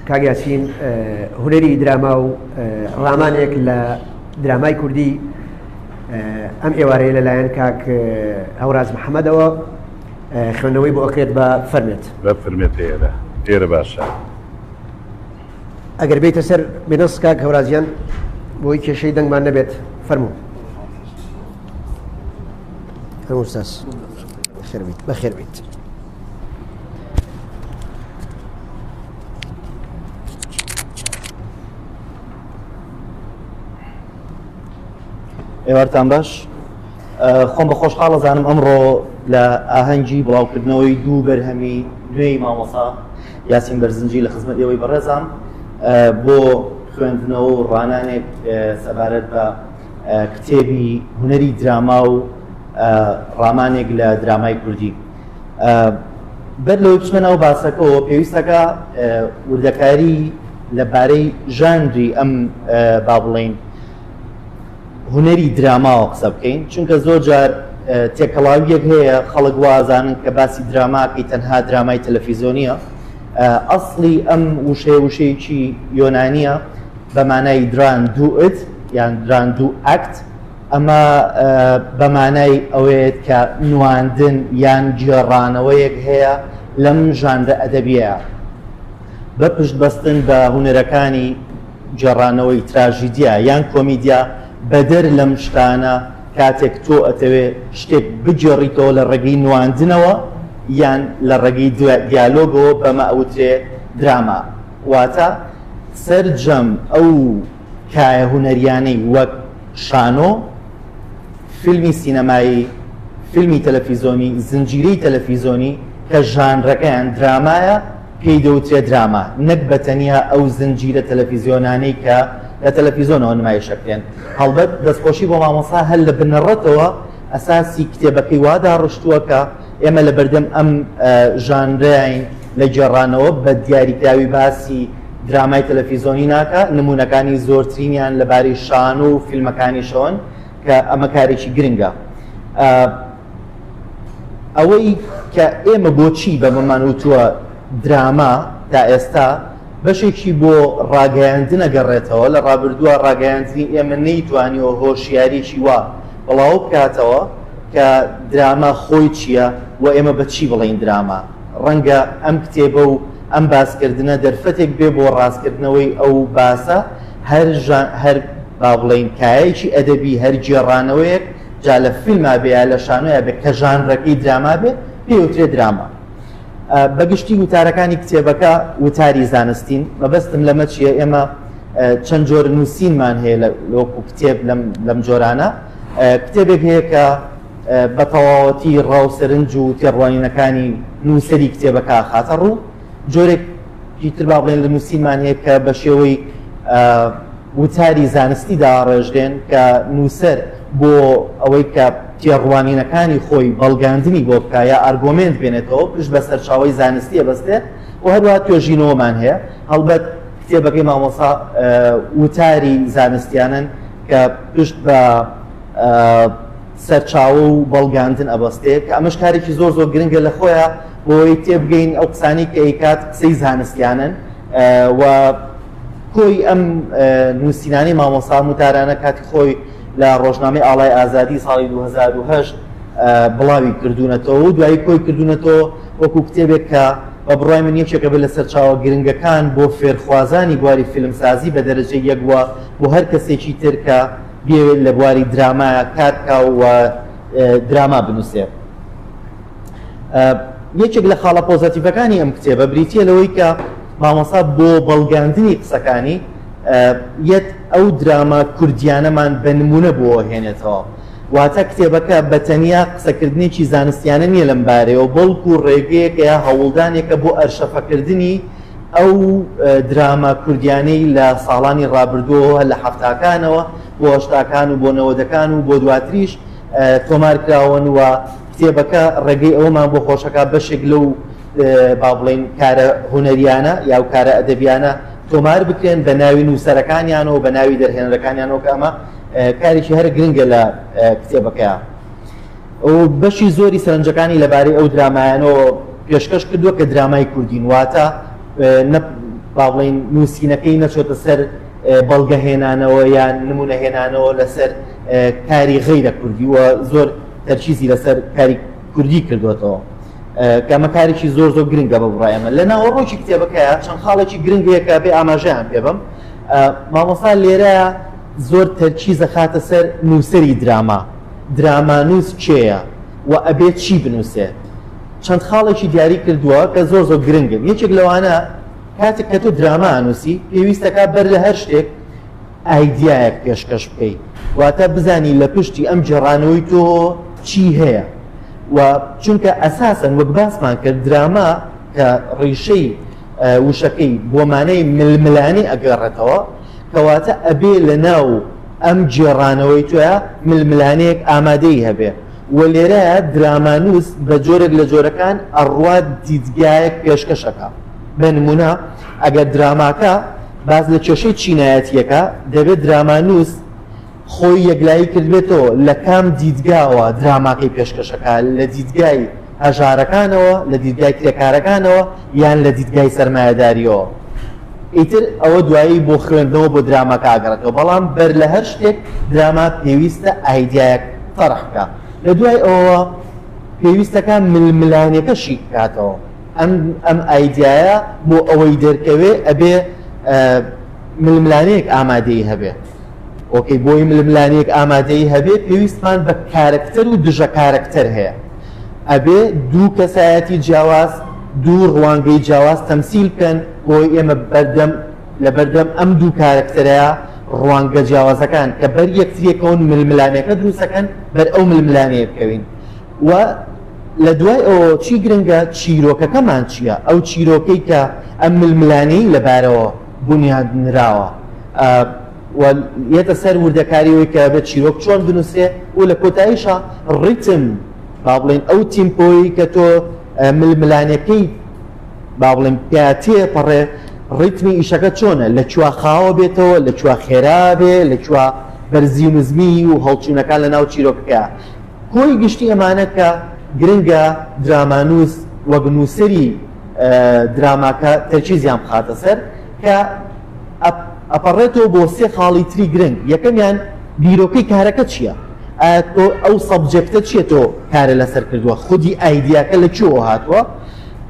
کاگاسین هوەری دراما و ڕامانێک لە درامای کوردی ئەم ئێوارەیە لەلایەن کاک هەوراز محەممەدەوە خوێندنەوەی بۆ ئەکرێت بە فەرمێت بە فرمێت ئێرە
ئێرە باشە
ئەگەر بیتە سەر بێنەس کاک هەورازیان بۆی کێشەی دەنگمان نەبێت فەرموو هەموو ساس. بەخێر بیت بەخێر بیت
ئێوارتان باش خۆم بە خۆشحاڵە زانم ئەمڕۆ لە ئاهەنگی بڵاوکردنەوەی دوو بەرهەمی نوێی مامۆسا یاسین بەرزنجی لە خزمەت ئێوەی بەڕێزان بۆ خوێندنەوە و ڕانانێک سەبارەت بە کتێبی هونەری دراما و ڕامانێک لە درامای کوردی بەر لەوەی بچمە ناو باسەکەەوە پێویستەکە وردەکاری لەبارەی ژانری ئەم با بڵین هونەری دراماوە قسە بکەین چونکە زۆر جار تێکەڵاویەک هەیە خەڵک وازانن کە باسی دراماکەی تەنها درامای تەلەفیزۆنیە ئەاصلی ئەم وشەیە وشەیەکی یۆنانیە بە مانای دران دوو ئت یان دران دوو ئەکت، ئەمە بە مانای ئەوەیەت کە نواندن یان گێڕانەوەیەک هەیە لەم ژانرە ئەدەبییەیا بە پشت بەستن بە هونەرەکانی گێڕانەوەی تراژیدیا یان کۆمیدیا، بەدەر لەم شتانە کاتێک تۆ ئەتەوێ شتێک بگێڕیتەوە لە ڕێگەی نواندنەوە یان لە ڕێگەی دیالۆگەوە بەمە ئەوترێ دراما. واتە سەرجەم ئەو کایە هونەرییانەی وەک شانۆ، فیلمی سینەمایی، فیلمی تەلەفیزۆنی، زنجیرەی تەلەفیزۆنی کە ژانرەکەیان درامایە پێی دەوترێ دراما نەک بە تەنیا ئەو زنجیرە تەلەفیزیۆنانەی کە لە تەلەفیزۆنەوە نمایش ئەکرێن. هەڵبەت دەستخۆشی بۆ مامۆستا هەر لە بنەڕەتەوە ئەساسی کتێبەکەی وا داڕشتووە کە ئێمە لە بەردەم ئەم ژانرەین لە گێڕانەوە بە دیاریکراوی باسی درامای تەلەفیزۆنی ناکە نمونونەکانی زۆرترینیان لەبارەی شان و فیلمەکانی شۆن کە ئەمە کارێکی گرنگە ئەوەی کە ئێمە بۆچی بە بەمان وتووە دراما تا ئێستا بەشێکی بۆ ڕاگەیاندنە گەڕێتەوە لە ڕابردووە ڕاگەیاندنی ئێمە نەیتوانیەوە هۆشیاریی وا بڵاو بکاتەوە کە دراما خۆی چییە و ئێمە بە چی بڵێین دراما؟ ڕەنگە ئەم کتێبە و ئەم باسکردنە دەرفەتێک بێ بۆ ڕاستکردنەوەی ئەو باسە، هەر ژان، هەر با بڵێین کایەیەکی ئەدەبی، هەر گێڕانەوەیەک، جا لە فیلما بێ یا لە شانۆیا بێ، کە ژانرەکەی دراما بێ، پێی ئەوترێ دراما. بە گشتی وتارەکانی کتێبەکە وتاری زانستین. مەبەستم لەمە چییە؟ ئێمە چەند جۆر نووسینمان هەیە لە وەکوو کتێب لەم، لەم جۆرانە. کتێبێک هەیە کە بە تەواوەتی ڕا و سەرنج و تێڕوانینەکانی نووسەری کتێبەکە ئەخاتە ڕوو، جۆرێک ی تر با بڵێن لە نووسینمان هەیە کە بە شێوەی وتاری زانستی داڕێژرێن کە نووسەر بۆ ئەوەی کە تێڕوانینەکانی خۆی بەڵگاندنی بۆ بکا یا ئارگۆمێنت بێنێتەوە پشت بە سەرچاوەی زانستی ئەبەستێ و هەروەها توێژینەوەمان هەیە هەڵبەت کتێبەکەی مامۆستا وتاری زانستیانەن کە پشت بە سەرچاوە و بەڵگاندن ئەبەستێ کە ئەمەش کارێکی زۆر زۆر گرنگە لە خۆیە بۆی تێبگەین ئەو قسانی کە ئەیکات قسەی زانستیانن و کۆی ئەم نووسینانی مامۆسا متارانە کاتی خۆی لە ڕۆژنامەی ئاڵای ئازادی ساڵی 2010 بڵاوی کردوونەتەوە و دوایی کۆی کردوونەتەوە وەکو کتێبێک کە بە بڕای من یەکێکە بە لە سەرچاوە گرنگەکان بۆ فێرخوازانی بواری فیلمسازی بە دەرەجەی یەک وە بۆ هەر کەسێکی تر کە بیەوێت لە بواری درامایا کار بکا و دراما بنووسێت. یەکێک لە خاڵە پۆزەتیڤەکانی ئەم کتێبە بریتە لەوەی کە مامۆسا بۆ بەڵگاندنی قسەکانی یەت ئەو دراما کوردیانەمان بە نمونە بۆ هێنێتەوە. واتە کتێبەکە بە تەنیا قسەکردنێکی زانستیانە نییە لەم بارەیەوە بەڵکو ڕێگەیەکەیە هەوڵدانێکە بۆ ئەرشەفەکردنی ئەو دراما کوردیانەی لە ساڵانی ڕابردووەوە لە حەفتاکانەوە بۆ هەشتاکان و بۆ نەوەدەکان و بۆ دواتریش تۆمار کراون و کتێبەکە ڕێگەی ئەوەمان بۆ خۆشەکە بەشێک لەو با بڵێن کارە هونەریانە یا و کارە ئەدەبیانە تۆمار بکرێن بە ناوی نووسەرەکانیانەوە بە ناوی دەرهێنەرەکانیانەوە کە ئەمە کارێکی هەر گرنگە لە کتێبەکەیان و بەشی زۆری سەرنجەکانی لەبارەی ئەو درامایانەوە پێشکەش کردووە کە درامای کوردین واتە نە با بڵێین نووسینەکەی نەچۆتە سەر بەڵگەهێنانەوە یان نمونەهێنانەوە لەسەر کاری غیرە کوردی و زۆر تەرکیزی لەسەر کاری کوردی کردوێتەوە کەمەکارێکی زۆر زۆر گرنگە بە بڕایەمە لە ناوەڕۆکی کتێبەکەیە چەند خاڵێکی گرنگ هەیەکە بێ ئاماژەیان پێ بم مامۆسا لێرە زۆر تەرکیزە خاتە سەر نووسری دراما درامانووس کێیە و ئەبێت چی بنووسێت؟ چەند خاڵێکی دیاری کردووە کە زۆر زۆر گرنگن یەکێک لەوانە کاتێک کە تۆ دراما ئەنووسی پێویستەکە بەر لە هەر شتێک ئایدیایەک پێشکەش بکەیت واتە بزانی لە پشتی ئەم جێڕانەوەی تۆ چی هەیە و چونکە ئەساسن وەک باسمان کرد دراما کە ڕیشەی وشەکەی بۆ مانای ململانی ئەگەڕێتەوە کەواتە ئەبێ لە ناو ئەم گێڕانەوەی تۆە ململانەیەک ئامادەی هەبێ و لێرە درامانوس بە جۆرێک لە جۆرەکان ئەڕوات دیدگایەک پێشکەشەکە بە نمونە ئەگەر دراماکە باز لە کێشەی چینایەتیەکە دەبێت درامانوس خۆی یەکلایی کردبێتەوە لە کام دیدگاوە دراماکەی پێشکەش ئەکا، لە دیدگای هەژارەکانەوە، لە دیدگای کرێکارەکانەوە یان لە دیدگای سەرمایەداریەوە ئیتر ئەوە دوایی بۆ خوێندنەوە بۆ دراماکە ئەگەڕێتەوە بەڵام بەر لە هەر شتێک دراما پێویستە ئایدیایەک تەڕح بکا لە دوای ئەوە پێویستەکە ململانێکە شی بکاتەوە ئەم ئەم ئایدایە بۆ ئەوەی دەرکەوێ ئەبێ ململانەیەک ئامادەی هەبێت ئۆکەی بۆی ململانێیەک ئامادەیی هەبێ پێویستمان بە کارەکتەر و دژە کارەکتەر هەیە ئەبێ دوو کەسایەتی جیاواز دوو ڕوانگەی جیاواز تەمسیل بکەن بۆی ئێمە بەردەم لەبەردەم ئەم دوو کارەکتەرەیە ڕوانگە جیاوازەکان کە بەر یەکتریەکەون ململانێکە دروستەکەن بەر ئەو ململانەیە بکەوین و لە دوای ئەوە چی گرنگە چیرۆکەکەمان چییە ئەو چیرۆکەی کە ئەم ململانەی لەبارەوە بونیادنراوە و یەتە سەر وردەکاری وی کە بێت چیرۆک چۆن بنووسێ و لە کۆتاییشە ڕیتم با بڵێن ئەو تیمپۆی کە تۆ ململانەکەی با بڵێن پیاتێ پەڕێ ڕیتمی ئیشەکە چۆنە لە چوە خاوە بێتەوە لە چوە خێرا بێ لە چوە بەرزی و نزمی و هەڵچوونەکان لە ناو چیرۆکەکە کۆی گشتی ئەمانە کە گرنگە درامانوس وەگنووسری دراماکە تەرکیزیان بخاتە سەر کە ئەپەڕێتەوە بۆ سێ خاڵی تری گرنگ یەکەمیان بیرۆکەی کارەکە چییە؟ تۆ ئەو سەبجێکتە چیە تۆ کارە لەسەر کردووە خودی ئایدیاکە لە چۆ هاتووە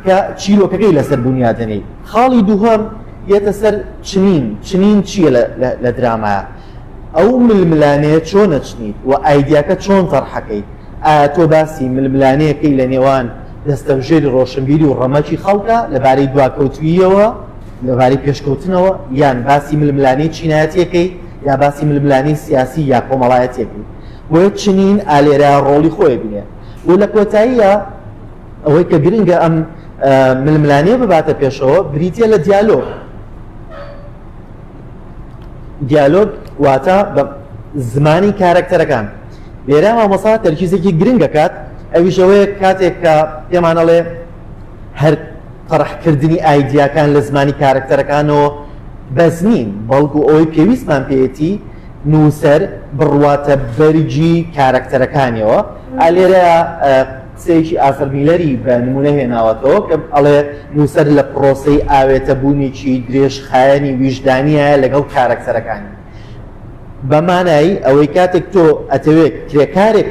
کە چیرۆکەکەی لەسەر بنیادەنەی خاڵی دووهەم یەتە سەر چنین چنین چییە لە درامایە ئەو ململانەیە چۆنە چنیت و ئایدیاکە چۆن تەرحەکەیت ئایا تۆ باسی ململانێیەکەی لە نێوان دەستەبژێری ڕۆشنبیری و ڕەمەکی خەڵکە لەبارەی دواکەوتووییەوە لەبارەی پێشکەوتنەوە، یان باسی ململانێی چینایەتیەکەی یا باسی ململانێی سیاسی یا کۆمەڵایەتیەکەی؟ بۆیە چنین ئالێرە ڕۆڵی خۆی بینێ و لە کۆتاییا ئەوەی کە گرنگە ئەم ململانێ بباتە پێشەوە بریتیە لە دیالۆگ. دیالۆگ واتە بە زمانی کارەکتەرەکان لێرە مامۆسا تەرکیزێکی گرنگ دەکات ئەویش ئەوەیە کاتێک کە پێمانەڵێ هەر طرحکردنی ئایدیاکان لە زمانی کارەکتەرەکانەوە بەس نین بەڵکو ئەوەی پێویستمان پێێتی نووسەر بڕواتە بەرگی کارەکتەرەکانیەوە ئالێرە قسەیەکی ئارثەر میلەری بە نموونە هێناوەتەوە کە ئەڵێ، نووسەر لە پڕۆسەی ئاوێتەبوونێکی درێژخایەنی ویژدانیایە لەگەڵ کارەکتەرەکانی. بە مانای ئەوەی کاتێک تۆ ئەتەوێ کرێکارێک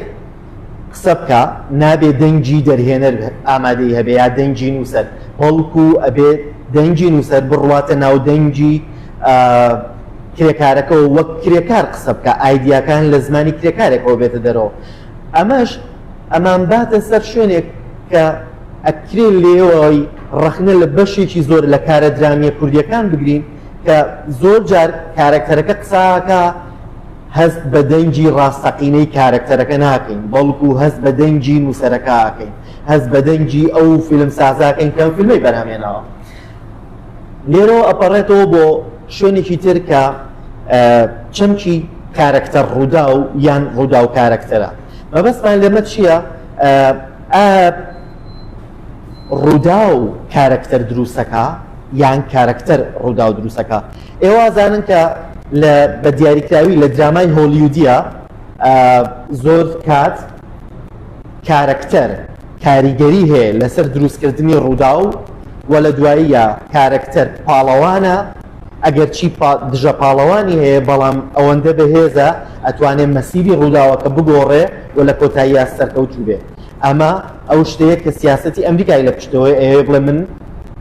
قسە بکا، نابێ دەنگی دەرهێنەر ئامادەی هەبێ یا دەنگی نووسەر، بەڵکو ئەبێ دەنگی نووسەر بڕواتە ناو دەنگی کرێکارەکەوە، وەک کرێکار قسە بکا، ئایدیاکان لە زمانی کرێکارێکەوە بێتە دەرەوە. ئەمەش. ئەمانباتە سەر شوێنێک کە ئەکرێ لێوەی ڕەخنە لە بەشێکی زۆر لە کارە درامیە کوردیەکان بگرین کە زۆر جار کارەکتەرەکە قساکە هەست بە دەنگی ڕاستەقینەی کارەکتەرەکە ناکەین بەڵکو هەست بە دەنگی نووسەرەکەکەین هەست بە دەنگی ئەو فیلم سازاکەین کەم فیلمی بەرهەمێنەوە لێرەوە ئەپەڕێتەوە بۆ شوێنێکی تر کە چەمکی کارەکتەر ڕووداو یان ڕووداو کارەکتەرە مەبەستمان لێمە چییە؟ ڕووداو کارەکتەر دروستەکە یان کارەکتەر ڕووداو دروستەکە ئێوازانن کە لە بە دیاریکراوی لە درامای هۆلیودیە زۆر کات کارەکتەر کاریگەری هەیە لەسەر دروستکردنی ڕووداو و لە دواییە کارەکتەر پاڵەوانە ئەگەرچی دژە پاڵەوانی هەیە بەڵام ئەوەندە بەهێزە ئەتوانێت مەسیری ڕووداوەکە بگۆڕێ و لە کۆتاییە سەرکەوتوو بێ ئەمە ئەو شتەیە کە سیاستی ئەمریکای لە پشتەوەی ئەوێ بڵێ من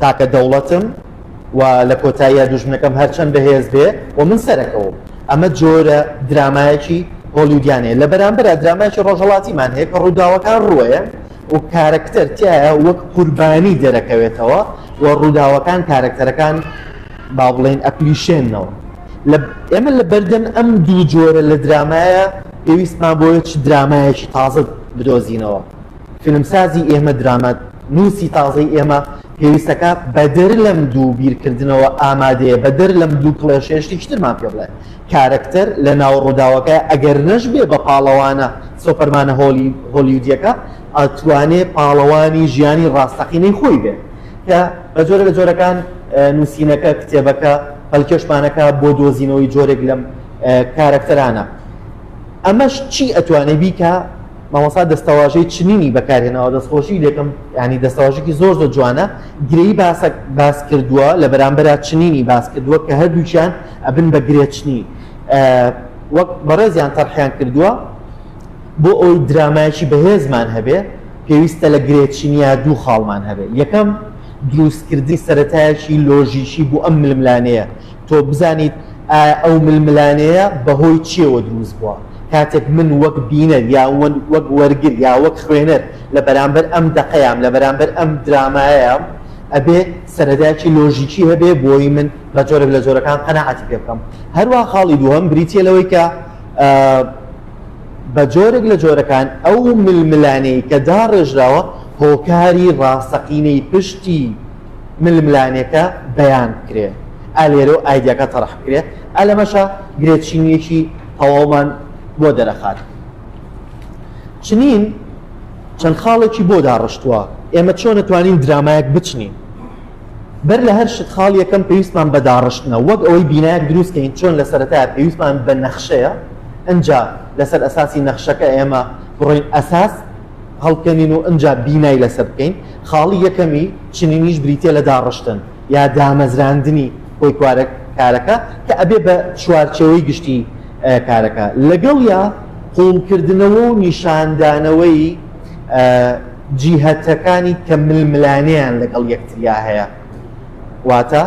تاکە دەوڵەتم و لە کۆتاییا دوژمنەکەم هەرچەند بەهێز بێ و من سەرەکەوم. ئەمە جۆرە درامایەکی هۆلیودیانەیە. لە بەرامبەرا درامایەکی ڕۆژهەڵاتیمان هەیە کە ڕووداوەکان ڕووەیەن و کارەکتەر تیایا وەک قوربانی دەرەکەوێتەوە و ڕووداوەکان کارەکتەرەکان با بڵێین ئەپلیشێننەوە. لە ئێمە لە بەردەم ئەم دوو جۆرە لە درامایە پێویستمان بۆیە چ درامایەکی تازە بدۆزینەوە. فیلمسازی ئێمە، دراما نووسی تازەی ئێمە، پێویستەکە بەدەر لەم دوو بیرکردنەوە ئامادەیە، بەدەر لەم دوو کڵێشەیە شتێکی ترمان پێ بڵێ. کارەکتەر لە ناو ڕووداوەکەیە، ئەگەر نەشبێ بە پاڵەوانە سۆپەرمانە هۆلیودییەکە، ئەتوانێ پاڵەوانی ژیانی ڕاستەقینەی خۆی بێ. کە بە جۆرە لە جۆرەکان نووسینەکە، کتێبەکە، پەلکێشمانەکە بۆ دۆزینەوەی جۆرێک لەم کارەکتەرانە. ئەمەش چی ئەتوانێ بیکا؟ مامۆستا دەستەواژەی چنینی بەکارهێناوە دەستخۆشی لێکەم یانی دەستەواژەکی زۆر زۆر جوانە گرێی باسەک باس کردووە لە بەرامبەرا چنینی باس کردووە کە هەردووکیان ئەبن بە گرێ چنی وەک بەڕێزیان تەرحیان کردووە بۆ ئەوی درامایکی بەهێزمان هەبێ پێویستە لە گرێ چینیا دوو خاڵمان هەبێ یەکەم دروستکردنی سەتایەکی لۆژیکی بۆ ئەم ململانەیە تۆ بزانیت ئایا ئەو ململانێیە بەهۆی چییەوە دروست بووە، کاتێک من وەک بینەر یا وەک وەرگر یا وەک خوێنەر لە بەرامبەر ئەم دەقەیام، لە بەرامبەر ئەم درامایەیام، ئەبێ سەرەدایەکی لۆژیکی هەبێ بۆی من بە جۆرێک لە جۆرەکان قەناعەتی پێ بکەم. هەروەها خاڵی دووهەم بریتییە لەوەی کە بە جۆرێک لە جۆرەکان ئەو ململانێی کە داڕێژراوە هۆکاری ڕاستەقینەی پشتی، ململانێکە بەیان بکرێ ئا لێرە و ئایدیاکە تەڕح بکرێ ئا لەمەشا گرێ چینیەکی تەواومان بۆ دەرەخات چنین چەند خاڵێکی بۆ داڕشتووە ئێمە چۆن نەتوانین درامایەک بچنین بەر لە هەر شت خاڵ یەکەم پێویستمان بە داڕشتنە وەک ئەوەی بینایەک دروستکەین چۆن لە سەرەتا پێویستمان بە نەخشەیە ئەجا لەسەر ئەساسی نەخشەکە ئێمە بڕۆین ئەساس هەڵکەنین و ئنجا بینای لەسەر بکەین، خاڵی یەکەمی چنینیش بریتیە لە داڕشتن یا دامەزراندنی گۆیکوارە کارەکە کە ئەبێ بە چوارچێوەی گشتی کارەکە لەگەڵیا قوڵکردنەوە و نیشاندانەوەی جیهەتەکانی کە ململانێیان لەگەڵ یەکتریا هەیە. واتە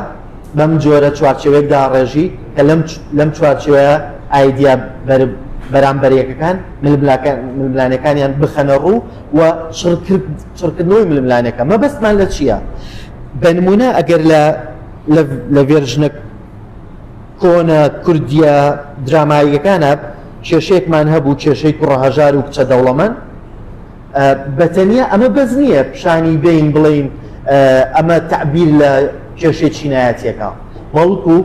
بەم جۆرە چوارچێوەیەک داڕێژی کە لەم لەم چوارچێوەیە ئایدیا بەرامبەرەکەکان ململانەکانیان بخەنە ڕوو و چڕکردنەوەی ململانەکە مەبەستمان لە چییە؟ بە نمونە ئەگەر لە لە ڤێرژنە کۆنە کوردیە دراماییەکانە کێشێکمان هەبوو کێشەی کوڕە هەژار و کچە دەوڵەمەند بە تەنیا ئەمە بەس نییە پیشانی بەین بڵێین ئەمە تەعبیر لە کێشەی چینایەتییەکە، بەڵکو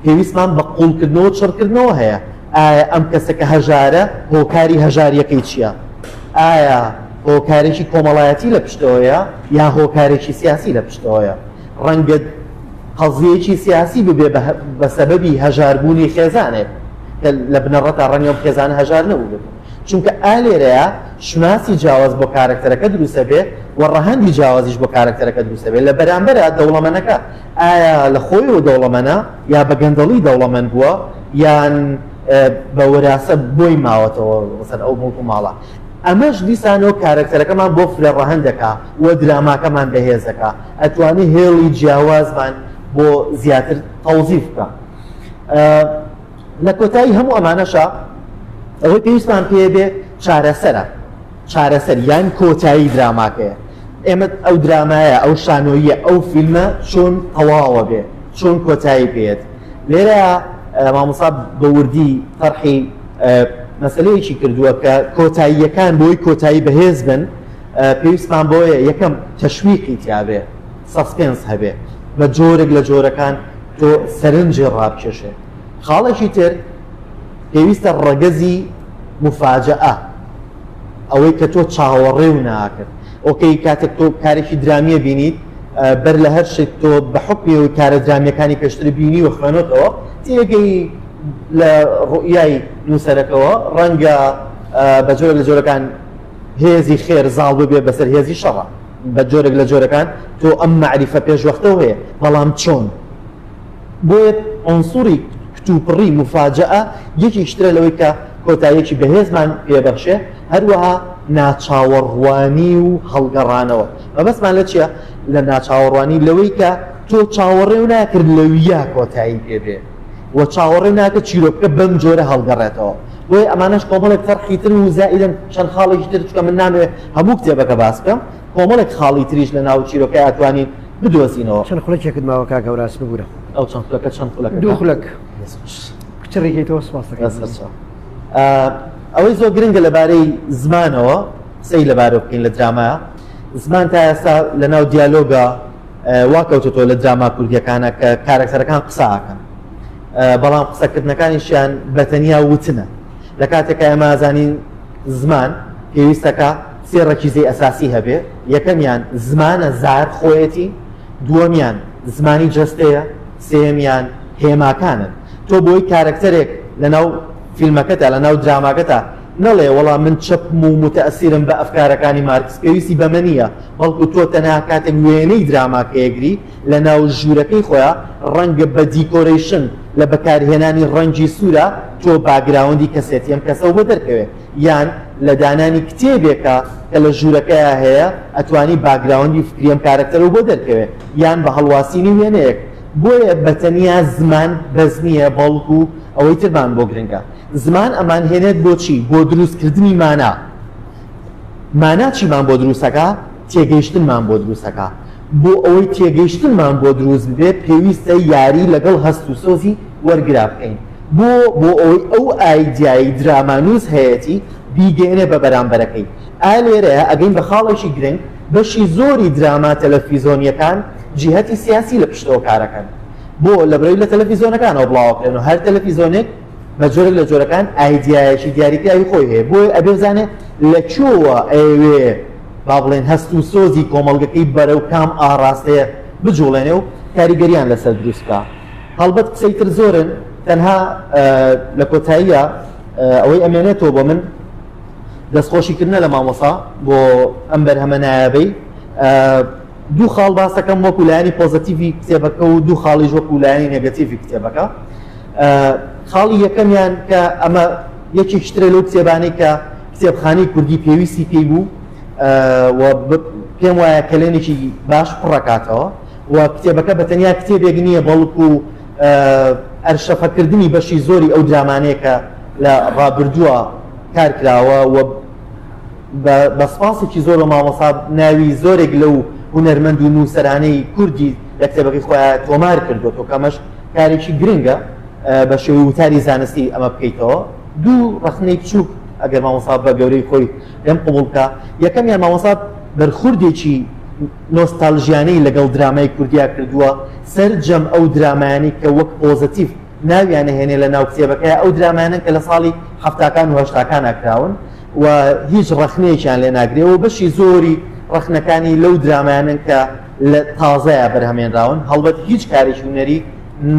پێویستمان بە قووڵکردنەوە و چڕکردنەوە هەیە، ئایا ئەم کەسە کە هەژارە هۆکاری هەژارییەکەی چییە؟ ئایا هۆکارێکی کۆمەڵایەتی لە پشتەوەیە یا هۆکارێکی سیاسی لە پشتەوەیە؟ ڕەنگە قەزیەیەکی سیاسی ببێ بە سەبەبی هەژاربوونی خێزانێک کە لە بنەڕەتدا ڕەنگە ئەم خێزانە هەژار نەبووبێت. چونکە ئا لێرەیا شوناسی جیاواز بۆ کارەکتەرەکە دروست ئەبێت و ڕەهەندی جیاوازیش بۆ کارەکتەرەکە دروست ئەبێت لە بەرامبەرا دەوڵەمەنەکە ئایا لە خۆیەوە دەوڵەمەنە یا بە گەندەڵی دەوڵەمەن بووە یان بە وراثە بۆی ماوەتەوە مەسەن ئەو مڵک و ماڵە ئەمەش دیسانەوە کارەکتەرەکەمان بۆ فرە ڕەهەند دەکا و دراماکەمان بەهێز دەکا ئەتوانی هێڵی جیاوازمان بۆ زیاتر تەوزیف بکە. لە کۆتایی هەموو ئەمانەشا ئەوەی پێویستمان پێ بێ چارەسەرە چارەسەر یان کۆتایی دراماکەیە ئێمە ئەو درامایە ئەو شانۆیە ئەو فیلمە چۆن تەواوە بێ چۆن کۆتایی پێێت لێرە مامۆسا بەوردی فەرحی مەسلەیەکی کردووە کە کۆتاییەکان بۆی کۆتایی بەهێز بن پێویستمان بۆیە یەکەم تەشویقی تیاابێ سەسپێنس هەبێ بە جۆرێک لە جۆرەکان تۆ سەرنجی ڕابکێشێ. خاڵێکی تر پێویستە ڕەگەزی مفاجەئە، ئەوەی کە تۆ چاوەڕێ و ناکرد. ئۆکەی کاتێک تۆ کارێکی درامییە بینیت، بەر لە هەر شت تۆ بە حوکمی ئەوەی کارە درامییەکانی پێشتر بینی و خوێنۆتەوە، تێگەی لە ڕوئیای نووسەرەکەوە، ڕەنگە بە جۆرە لە جۆرەکان هێزی خێر زاڵ ببێ بەسەر هێزی شەڕ. بە جۆرێک لە جۆرەکان تۆ ئەم مەعریفە پێشوەختەو هەیە بەڵام چۆن بۆیە ئۆنسوری کتوپڕی مفاجەە یەکیشترە لەوەی کە کۆتایەکی بەهێزمان پێبەخشێ هەروەها ناچاوەڕوانی و هەڵگەڕانەوە مەبەستمان لە چیە لە ناچاوەڕوانی لەوەی کە تۆ چاوەڕێ و ناکرد لەویا کۆتایی پێبێ و چاوەڕێ ناکە چیرۆکەکە بەم جۆرە هەڵگەڕێتەوە بۆیە ئەمانەش کۆمەڵێک فەرحی تر و زائیدن چەند خاڵێکی تر چکە من نامێ هەموو کتێبەکە باس بکەم کۆمەڵێک خاڵی تریش لە ناو چیرۆکە ئەتوانین بدۆزینەوە چەند خولەکێکت ماوە کاک
هەوراز ببورە ئەو چەند خولەکە چەند خولەکە
دوو خولەک
کچە ڕێگەیتەوە سپاس دەکەم
ئەوەی زۆر گرنگە لەبارەی زمانەوە قسەی لەبارە بکەین لە درامایە زمان تا ئێستا لە ناو دیالۆگە وا کەوتۆتەوە لە دراما کوردیەکانە کە کارەکتەرەکان قسە ئاکەن بەڵام قسەکردنەکانیشیان بەتەنیا وتنە لە کاتێکە ئەمازانین زمان پێویستەکە سێ ڕەکیزی ئەساسی هەبێ یەکەمیان زمانە زار خۆیەتی دووەمیان زمانی جستەیە سێمیان هێماکانن تۆ بۆی کارەکتەرێک لەناو فیلمەکەدا لە ناو دراماگەدا نەڵێ وەڵا من چەپم و موتەئەسیرم بە ئەفکارەکانی مارکس، پێویستی بەمە نییە، بەڵکو تۆ تەنها کاتێک وێنەی دراماکە یەکگری لە ناو ژوورەکەی خۆیا، ڕەنگە بە دیکۆرەیشن، لە بەکارهێنانی ڕەنگی سوورە، تۆ باگراوندی کەسێتی ئەم کەسە وبۆ دەرکەوێ. یان لە دانانی کتێبێکە کە لە ژوورەکەیا هەیە، ئەتوانی باگراوندی فکری ئەم کارەکتەرە وبۆ دەرکەوێ، یان بە هەڵواسینی وێنەیەک. بۆیە بە تەنیا زمان بەس نییە، بەڵکو ئەوەی ترمان بۆ گرنگە. زمان ئەمانهێنێت بۆ چی؟ بۆ دروستکردنی مانا. مانا چیمان بۆ دروستەکا؟ تێگەیشتنمان بۆ دروستەکا. بۆ ئەوەی تێگەیشتنمان بۆ دروست ببێت، پێویستە یاری لەگەڵ هەست و سۆزی وەرگرا بکەین. بۆ؟ بۆ ئەوەی ئەو ئایدیایەی درامانووس هەیەتی، بیگەیەنێ بە بەرامبەرەکەی. ئا لێرەیە ئەگەین بە خاڵێکی گرنگ، بەشی زۆری دراما تەلەفیزۆنییەکان جیهەتی سیاسی لە پشتەوە کارەکەن. بۆ؟ لەبرەوی لە تەلەفیزۆنەکانەوە بڵاوەکرێن و هەر تەلەفیزۆنێک، بە جۆرێک لە جۆرەکان ئایدیایەکی دیاریکراوی خۆی هەیە بۆی ئەبێ بزانێ لە چۆوە ئەوێ با بڵێن هەست و سۆزی کۆمەڵگەکەی بەرە و کام ئاڕاستەیە بجوڵێنێ و کاریگەریان لەسەر دروستکە هەڵبەت قسەی تر زۆرن تەنها لە کۆتاییە ئەوەی ئەمێنێتەوە بۆ من دەستخۆشیکردە لە مامۆسا بۆ ئەم بەرهەمە نایابەی دوو خاڵ باس دەکەم وەکو لایەنی پۆزەتیڤی کتێبەکە و دوو خاڵیش وەکو لایەنی نێگەتیڤی کتێبەکە خاڵی یەکەمیان کە ئەمە یەکی شترە لەو کتێبانەی کە کتێبخانی کوردی پێویستی پێی بوو پێم وایە کەلێنێکی باش پڕەکاتەوە و کتێبەکە بە تەنیا کتێبێک نییە بەڵکو ئەرشەفەکردنی بەشی زۆری ئەو درامانەیە کە لە ڕابردووە کارکراوە و بە بە سوپاسێکی زۆر بە مامۆسا ناوی زۆرێک لەو هونەرمەند و نووسەرانەی کوردی لە کتێبەکەی خۆیان تۆمار کردوەوە کەمەش کارێکی گرنگە بە شێوەی وتاری زانستی ئەمە بکەیتەوە دوو ڕخنەی بچووک ئەگەر مامۆسا بە گەورەی خۆی لەم قوبڵکە یەکەمیان مامۆسا بەرخوردێکی نۆستالژیانەی لەگەڵ درامای کوردیا کردووە سەرجەم ئەو درامایانی کە وەک پۆزتیف ناویانە هێنێ لە ناو کتێبەکەیا ئەو درامایانەن کە لە ساڵی حەفتاکان و هەشتاکانا کراون و هیچ ڕەخنەیەکیان لێ ناگرێ و بەشی زۆری ڕەخنەکانی لەو درامایانن کە لە تازەیە بەرهەمێنراون هەڵبەت هیچ کارێکی هونەری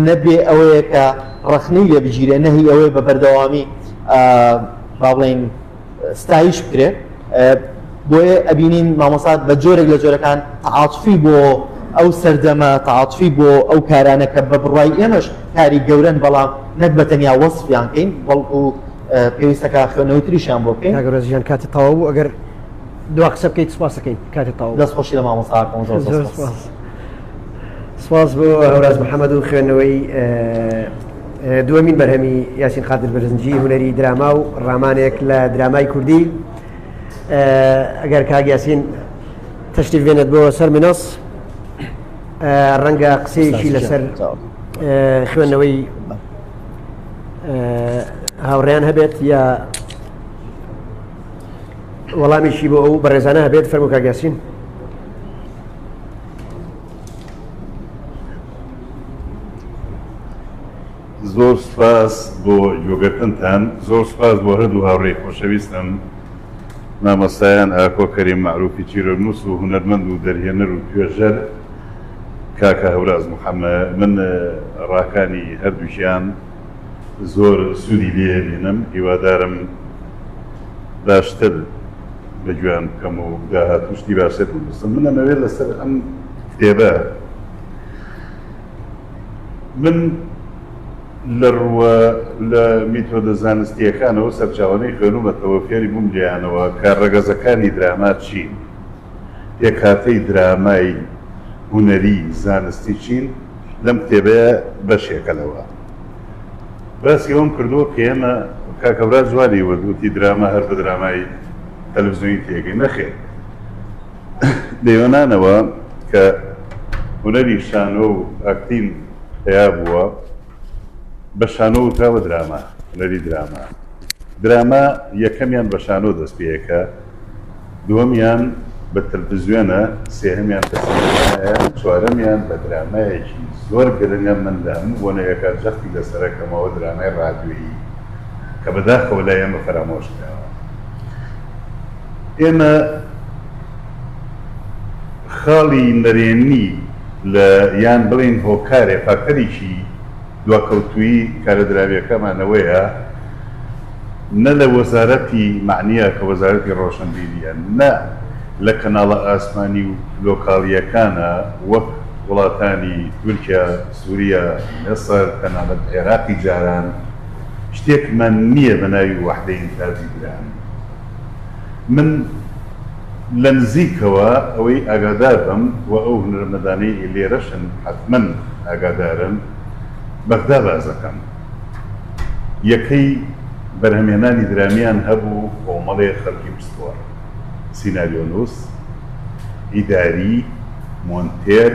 نەبێ ئەوەیە کە ڕەخنەی لێ بگیرێ نەهی ئەوەیە بە بەردەوامی با بڵێین ستایش بکرێ بۆیە ئەبینین مامۆسات بە جۆرێک لە جۆرەکان تعاطفی بۆ ئەو سەردەمە تعاطفی بۆ ئەو کارانە کە بە بڕای ئێمەش کاری گەورن بەڵام نەک بە تەنیا وەصفیان کەین بەڵکو پێویستەکە خوێنەوەی تریشیان بۆ بکەین گەرۆزیان کاتی تەواو بوو
ئەگەر دو قسە بکەیت سپاسەکەین کاتی تەواو دەست خۆشی لە مامۆساکەم زۆر
زۆر سپاس سپاس
بۆ هەوراز محەممەد و خوێندنەوەی دووەمین بەرهەمی یاسین قادر بەرزنجی هونەری دراما و ڕامانێک لە درامای کوردی ئەگەر کاک یاسین تەشتیف بێنێت بۆ سەر منۆس ڕەنگە قسەیەکی لەسەر خوێندنەوەی هاوڕیان هەبێت یا وەڵامیشی بۆ ئەو بەڕێزانە هەبێت فەرمو کاگەسین
زۆر سپاس بۆ یۆگەکەنتان زۆر سپاس بۆ هەردوو هاوڕێی خۆشەویستم مامەسایان ئاکۆ کەری معروفی چیرۆنووس و هونەرمەند و دەرهێنەر و توێژەر کاکە هەوراز محەممە من ڕاکانی هەردووکیان زۆر سوودی لێ بینم هیوادارم باشتر لە گوێیان بکەم و داهاتوو شتی باشتر بنووسم من ئەمەوێت لەسەر ئەم کتێبە من لە ڕووە لە میتۆدە زانستیەکانەوە سەرچاوانەی خوێنومەتەوە فێری بووم لێیانەوە کە ڕەگەزەکانی دراما چین پێکهاتەی درامای هونەری زانستی چین لەم کتێبەیا بەشێکە لەوە باسی ئەوەم کردووە کە ئێمە کاک هەوراز وا لێی وت وتی دراما هەر بە درامای تەلەڤزیۆنی تێگەی نەخێر لە یۆنانەوە کە هونەری شانۆ و ئاکتین پیا بووە بە شانۆ وتراوە دراما هونەری دراما دراما یەکەمیان بە شانۆ دەست پێیەکە دووەمیان بە تەلفزیۆنە، سێهەمیان بە سینەمایە، چوارەمیان بە درامایەکی زۆر گرنگە، من لە هەموو بۆنەیەکە جەختی لەسەرەکەمەوە درامای ڕادیۆیی کە بەداخەوە لای ئێمە فەرامۆش کراوە. ئێمە خاڵی نەرێنی لە یان بڵێین هۆکارێ فاکتەرێکی دواکەوتوویی کارە دراوییەکەمان ئەوەیە، نە لە وەزارەتی مەعنیە کە وەزارەتی ڕۆشنبیریە نە لە کەناڵە ئاسمانی و لۆکاڵیەکانە وەک وڵاتانی تورکیا، سوریا، میسر، تەنانەت عێراقی جاران شتێکمان نیە بە ناوی وەحدەی ئینتاجی برانی من لە نزیکەوە ئەوەی ئاگادار بم و ئەو هونەرمەدانەی لێرەشن حەتمەن ئاگادارن بەغدا باسدەکەم. یەکەی بەرهەمهێنانی درامیان هەبوو، کۆمەڵێ خەڵکی پسپۆڕ، سیناریۆنووس، ئیداری، مۆنتێر،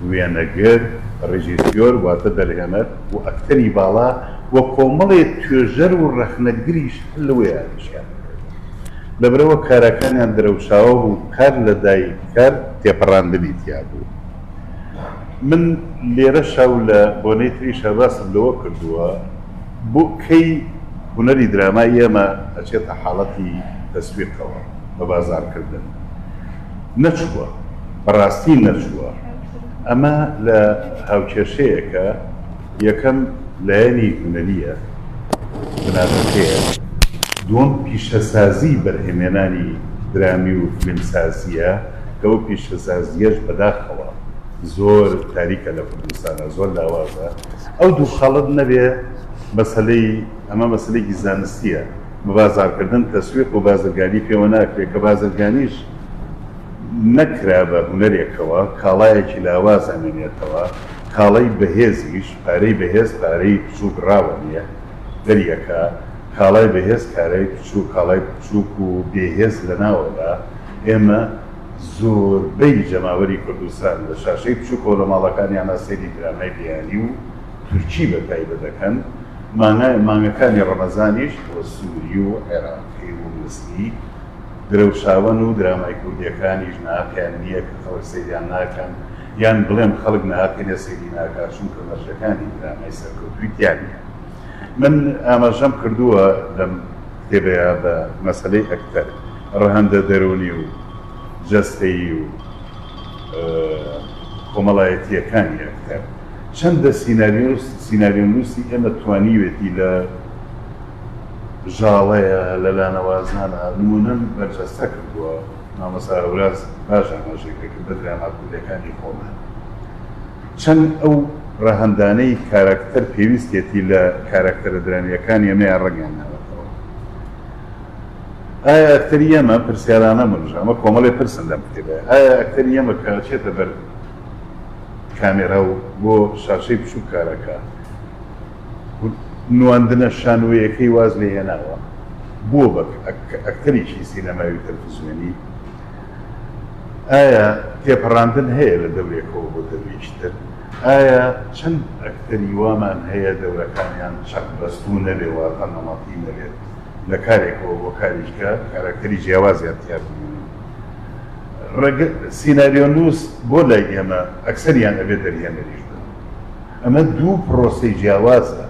وێنەگر، ڕێژیسیۆر واتە دەرهێنەر و ئەکتەری باڵا و کۆمەڵێ توێژەر و ڕەخنەگریش هەر لەوێ ئامێزیان کرد. لەبەرئەوە کاراکانیان درەوشاوە بوو، کار لە دایک کار تێپەڕاندنی تیا بوو. من لێرەشا و لە بۆنەی تریشا باسم لەوە کردووە بۆ کەی هونەری درامای ئێمە ئەچێتە حاڵەتی تەسویقەوە بە بازاڕکردن؟ نەچووە، بە ڕاستی نەچووە. ئەمە لە هاوکێشەیەکە، یەکەم لایەنی هونەرییە بناغەکەیە، دووەم پیشەسازیی بەرهەمێنانی درامی و فلیمسازییە، کە ئەو پیشەسازییەش بەداخەوە زۆر تاریکە لە کوردستانا زۆر لاوازە ئەو دوو خەڵت نەبێ مەسەلەی ئەمە مەسەلەیەکی زانستییە بەبازاڕکردن تەسویق و بازرگانی پێوە ناکرێ کە بازرگانیش نەکرا بە هونەرێکەوە کاڵایەکی لاواز ئەمێنێتەوە کاڵای بەهێزیش پارەی بەهێز پارەی بچووک ڕاوەنیە دەریەکا کاڵای بەهێز کارای بچووک کاڵای بچووک و بێهێز لەناوەبا ئێمە زۆربەی جەماوەری کوردستان لە شاشەی بچووک و لە ماڵەکانیانا سەیری درامای بیانی و تورکی بە تایبەت دەکەن، مانگە مانگەکانی ڕەمەزانیش بۆ سووری و عێراقی و میسری درەوشاوەن و درامای کوردییەکانیش ناقیان نییە کە خەڵک سەیریان ناکەن یان بڵێم خەڵک ناقینە سەیری ناکات چونکە مەرجەکانی درامای سەرکەوتووی تیا نییە. من ئاماژەم کردووە لەم کتێبەیا بە مەسەلەی ئەکتەر، ڕەهەندە دەروونی و جەستەیی و کۆمەڵایەتییەکانی ئەکتەر. چەندە سیناریۆنووسی ئێمە توانیوێتی لە ژاڵەیە، لە لانەوازانە نموونەم بەرجەستە کردووە. مامۆستا هەوراز باش ئاماژەی پێ کرد بە دراماکوردەکانی خۆمان چەند ئەو ڕەهەندانەی کاراکتەر پێویستێتی لە کاراکتەرە درامیەکانی ئەمەیان ڕەنگیان ناوەتەوە ئایا ئەکتەری ئەمە پرسیارانە منژ ئەمە کۆمەڵی پرسن لەم کتێبە ئایا ئەکتەری ئەمە کە چێتە بەر کامێرا و بۆ شاشەی بچووک کارەکە نواندنە شانۆیەکەی واز لێ هێناوە بووە بە ئەکتەرێکی سینەمای و تەلەفزیۆنی. ئایا تێپەڕاندن هەیە لە دەورێکەوە بۆ دەورێکی تر؟ ئایا چەند ئەکتەری وامان هەیە دەورەکانیان چەقبەستوو نەبێ واتە نەمەتی نەبێت، لە کارێکەوە بۆ کاریشکە کاراکتەری جیاوازیان تیا ببینین؟ سیناریۆنووس بۆ لای ئێمە ئەکتەریان ئەبێ دەرهێنەریش بن؟ ئەمە دوو پرۆسەی جیاوازە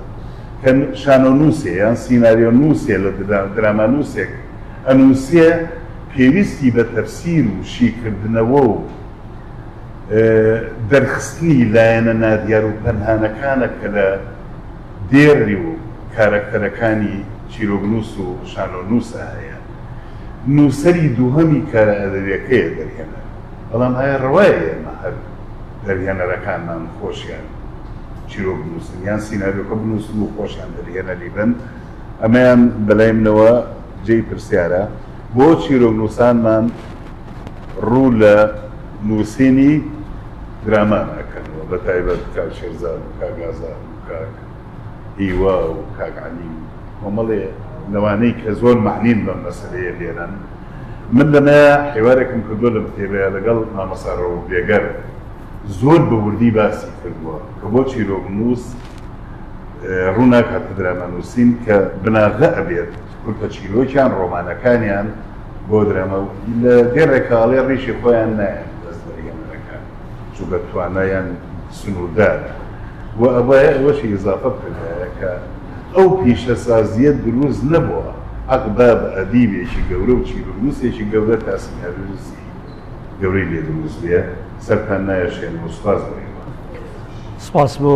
کە شانۆنووسێ یان سیناریۆنووسێ لە درامانووسێک ئەنووسێ پێویستی بە تەفسیر و شیکردنەوە و دەرخستنی لایەنە نادیار و پەنهانەکانە کە لە دێڕی و کارەکتەرەکانی چیرۆکنووس و شانۆنووسا هەیە نووسەری دووهەمی کارە ئەدەبیەکەیە دەرهێنەر. بەڵام ئایا ڕەوایە ئێمە هەر دەرهێنەرەکانمان خۆشیان چیرۆک بنووسن یان سیناریۆکە بنووسن و خۆشیان دەرهێنەری بن؟ ئەمەیان بەلای منەوە جێی پرسیارە، بۆ چیرۆکنووسانمان ڕوو لە نووسینی دراما ناکەنەوە، بەتایبەت کاک شێرزاد و کاک ئازاد و کاک. هیوا و کاک عەلی و کۆمەڵێ لەوانەی کە زۆر مەعنین بەم مەسەلەیە لێرەن من لەمە حیوارێکم کردووە لەم کتێبەیە لەگەڵ مامۆستا ڕەوف بێگەر زۆر بە وردی باسی کردووە کە بۆ چیرۆکنووس ڕووناکاتە درامانووسین کە بناغە ئەبێت کورتە چیرۆکیان ڕۆمانەکانیان بۆ درامە و لە دێڕێکاڵێ ڕیشی خۆیان نایەن دەست بەریەمەرەکان چووکە توانایان سنووردارە و ئەبایە ئەوەشی ئیزافە بکردایە کە ئەو پیشەسازییە دروست نەبووە ئەقبە بە ئەدیبێکی گەورە و چیرونووسێکی گەورە تا سیناریۆیستی گەورەی لێ دروست بێ سەرتان نایەشێنم
و
سوپاس بۆ ئێوە
سپاس
بۆ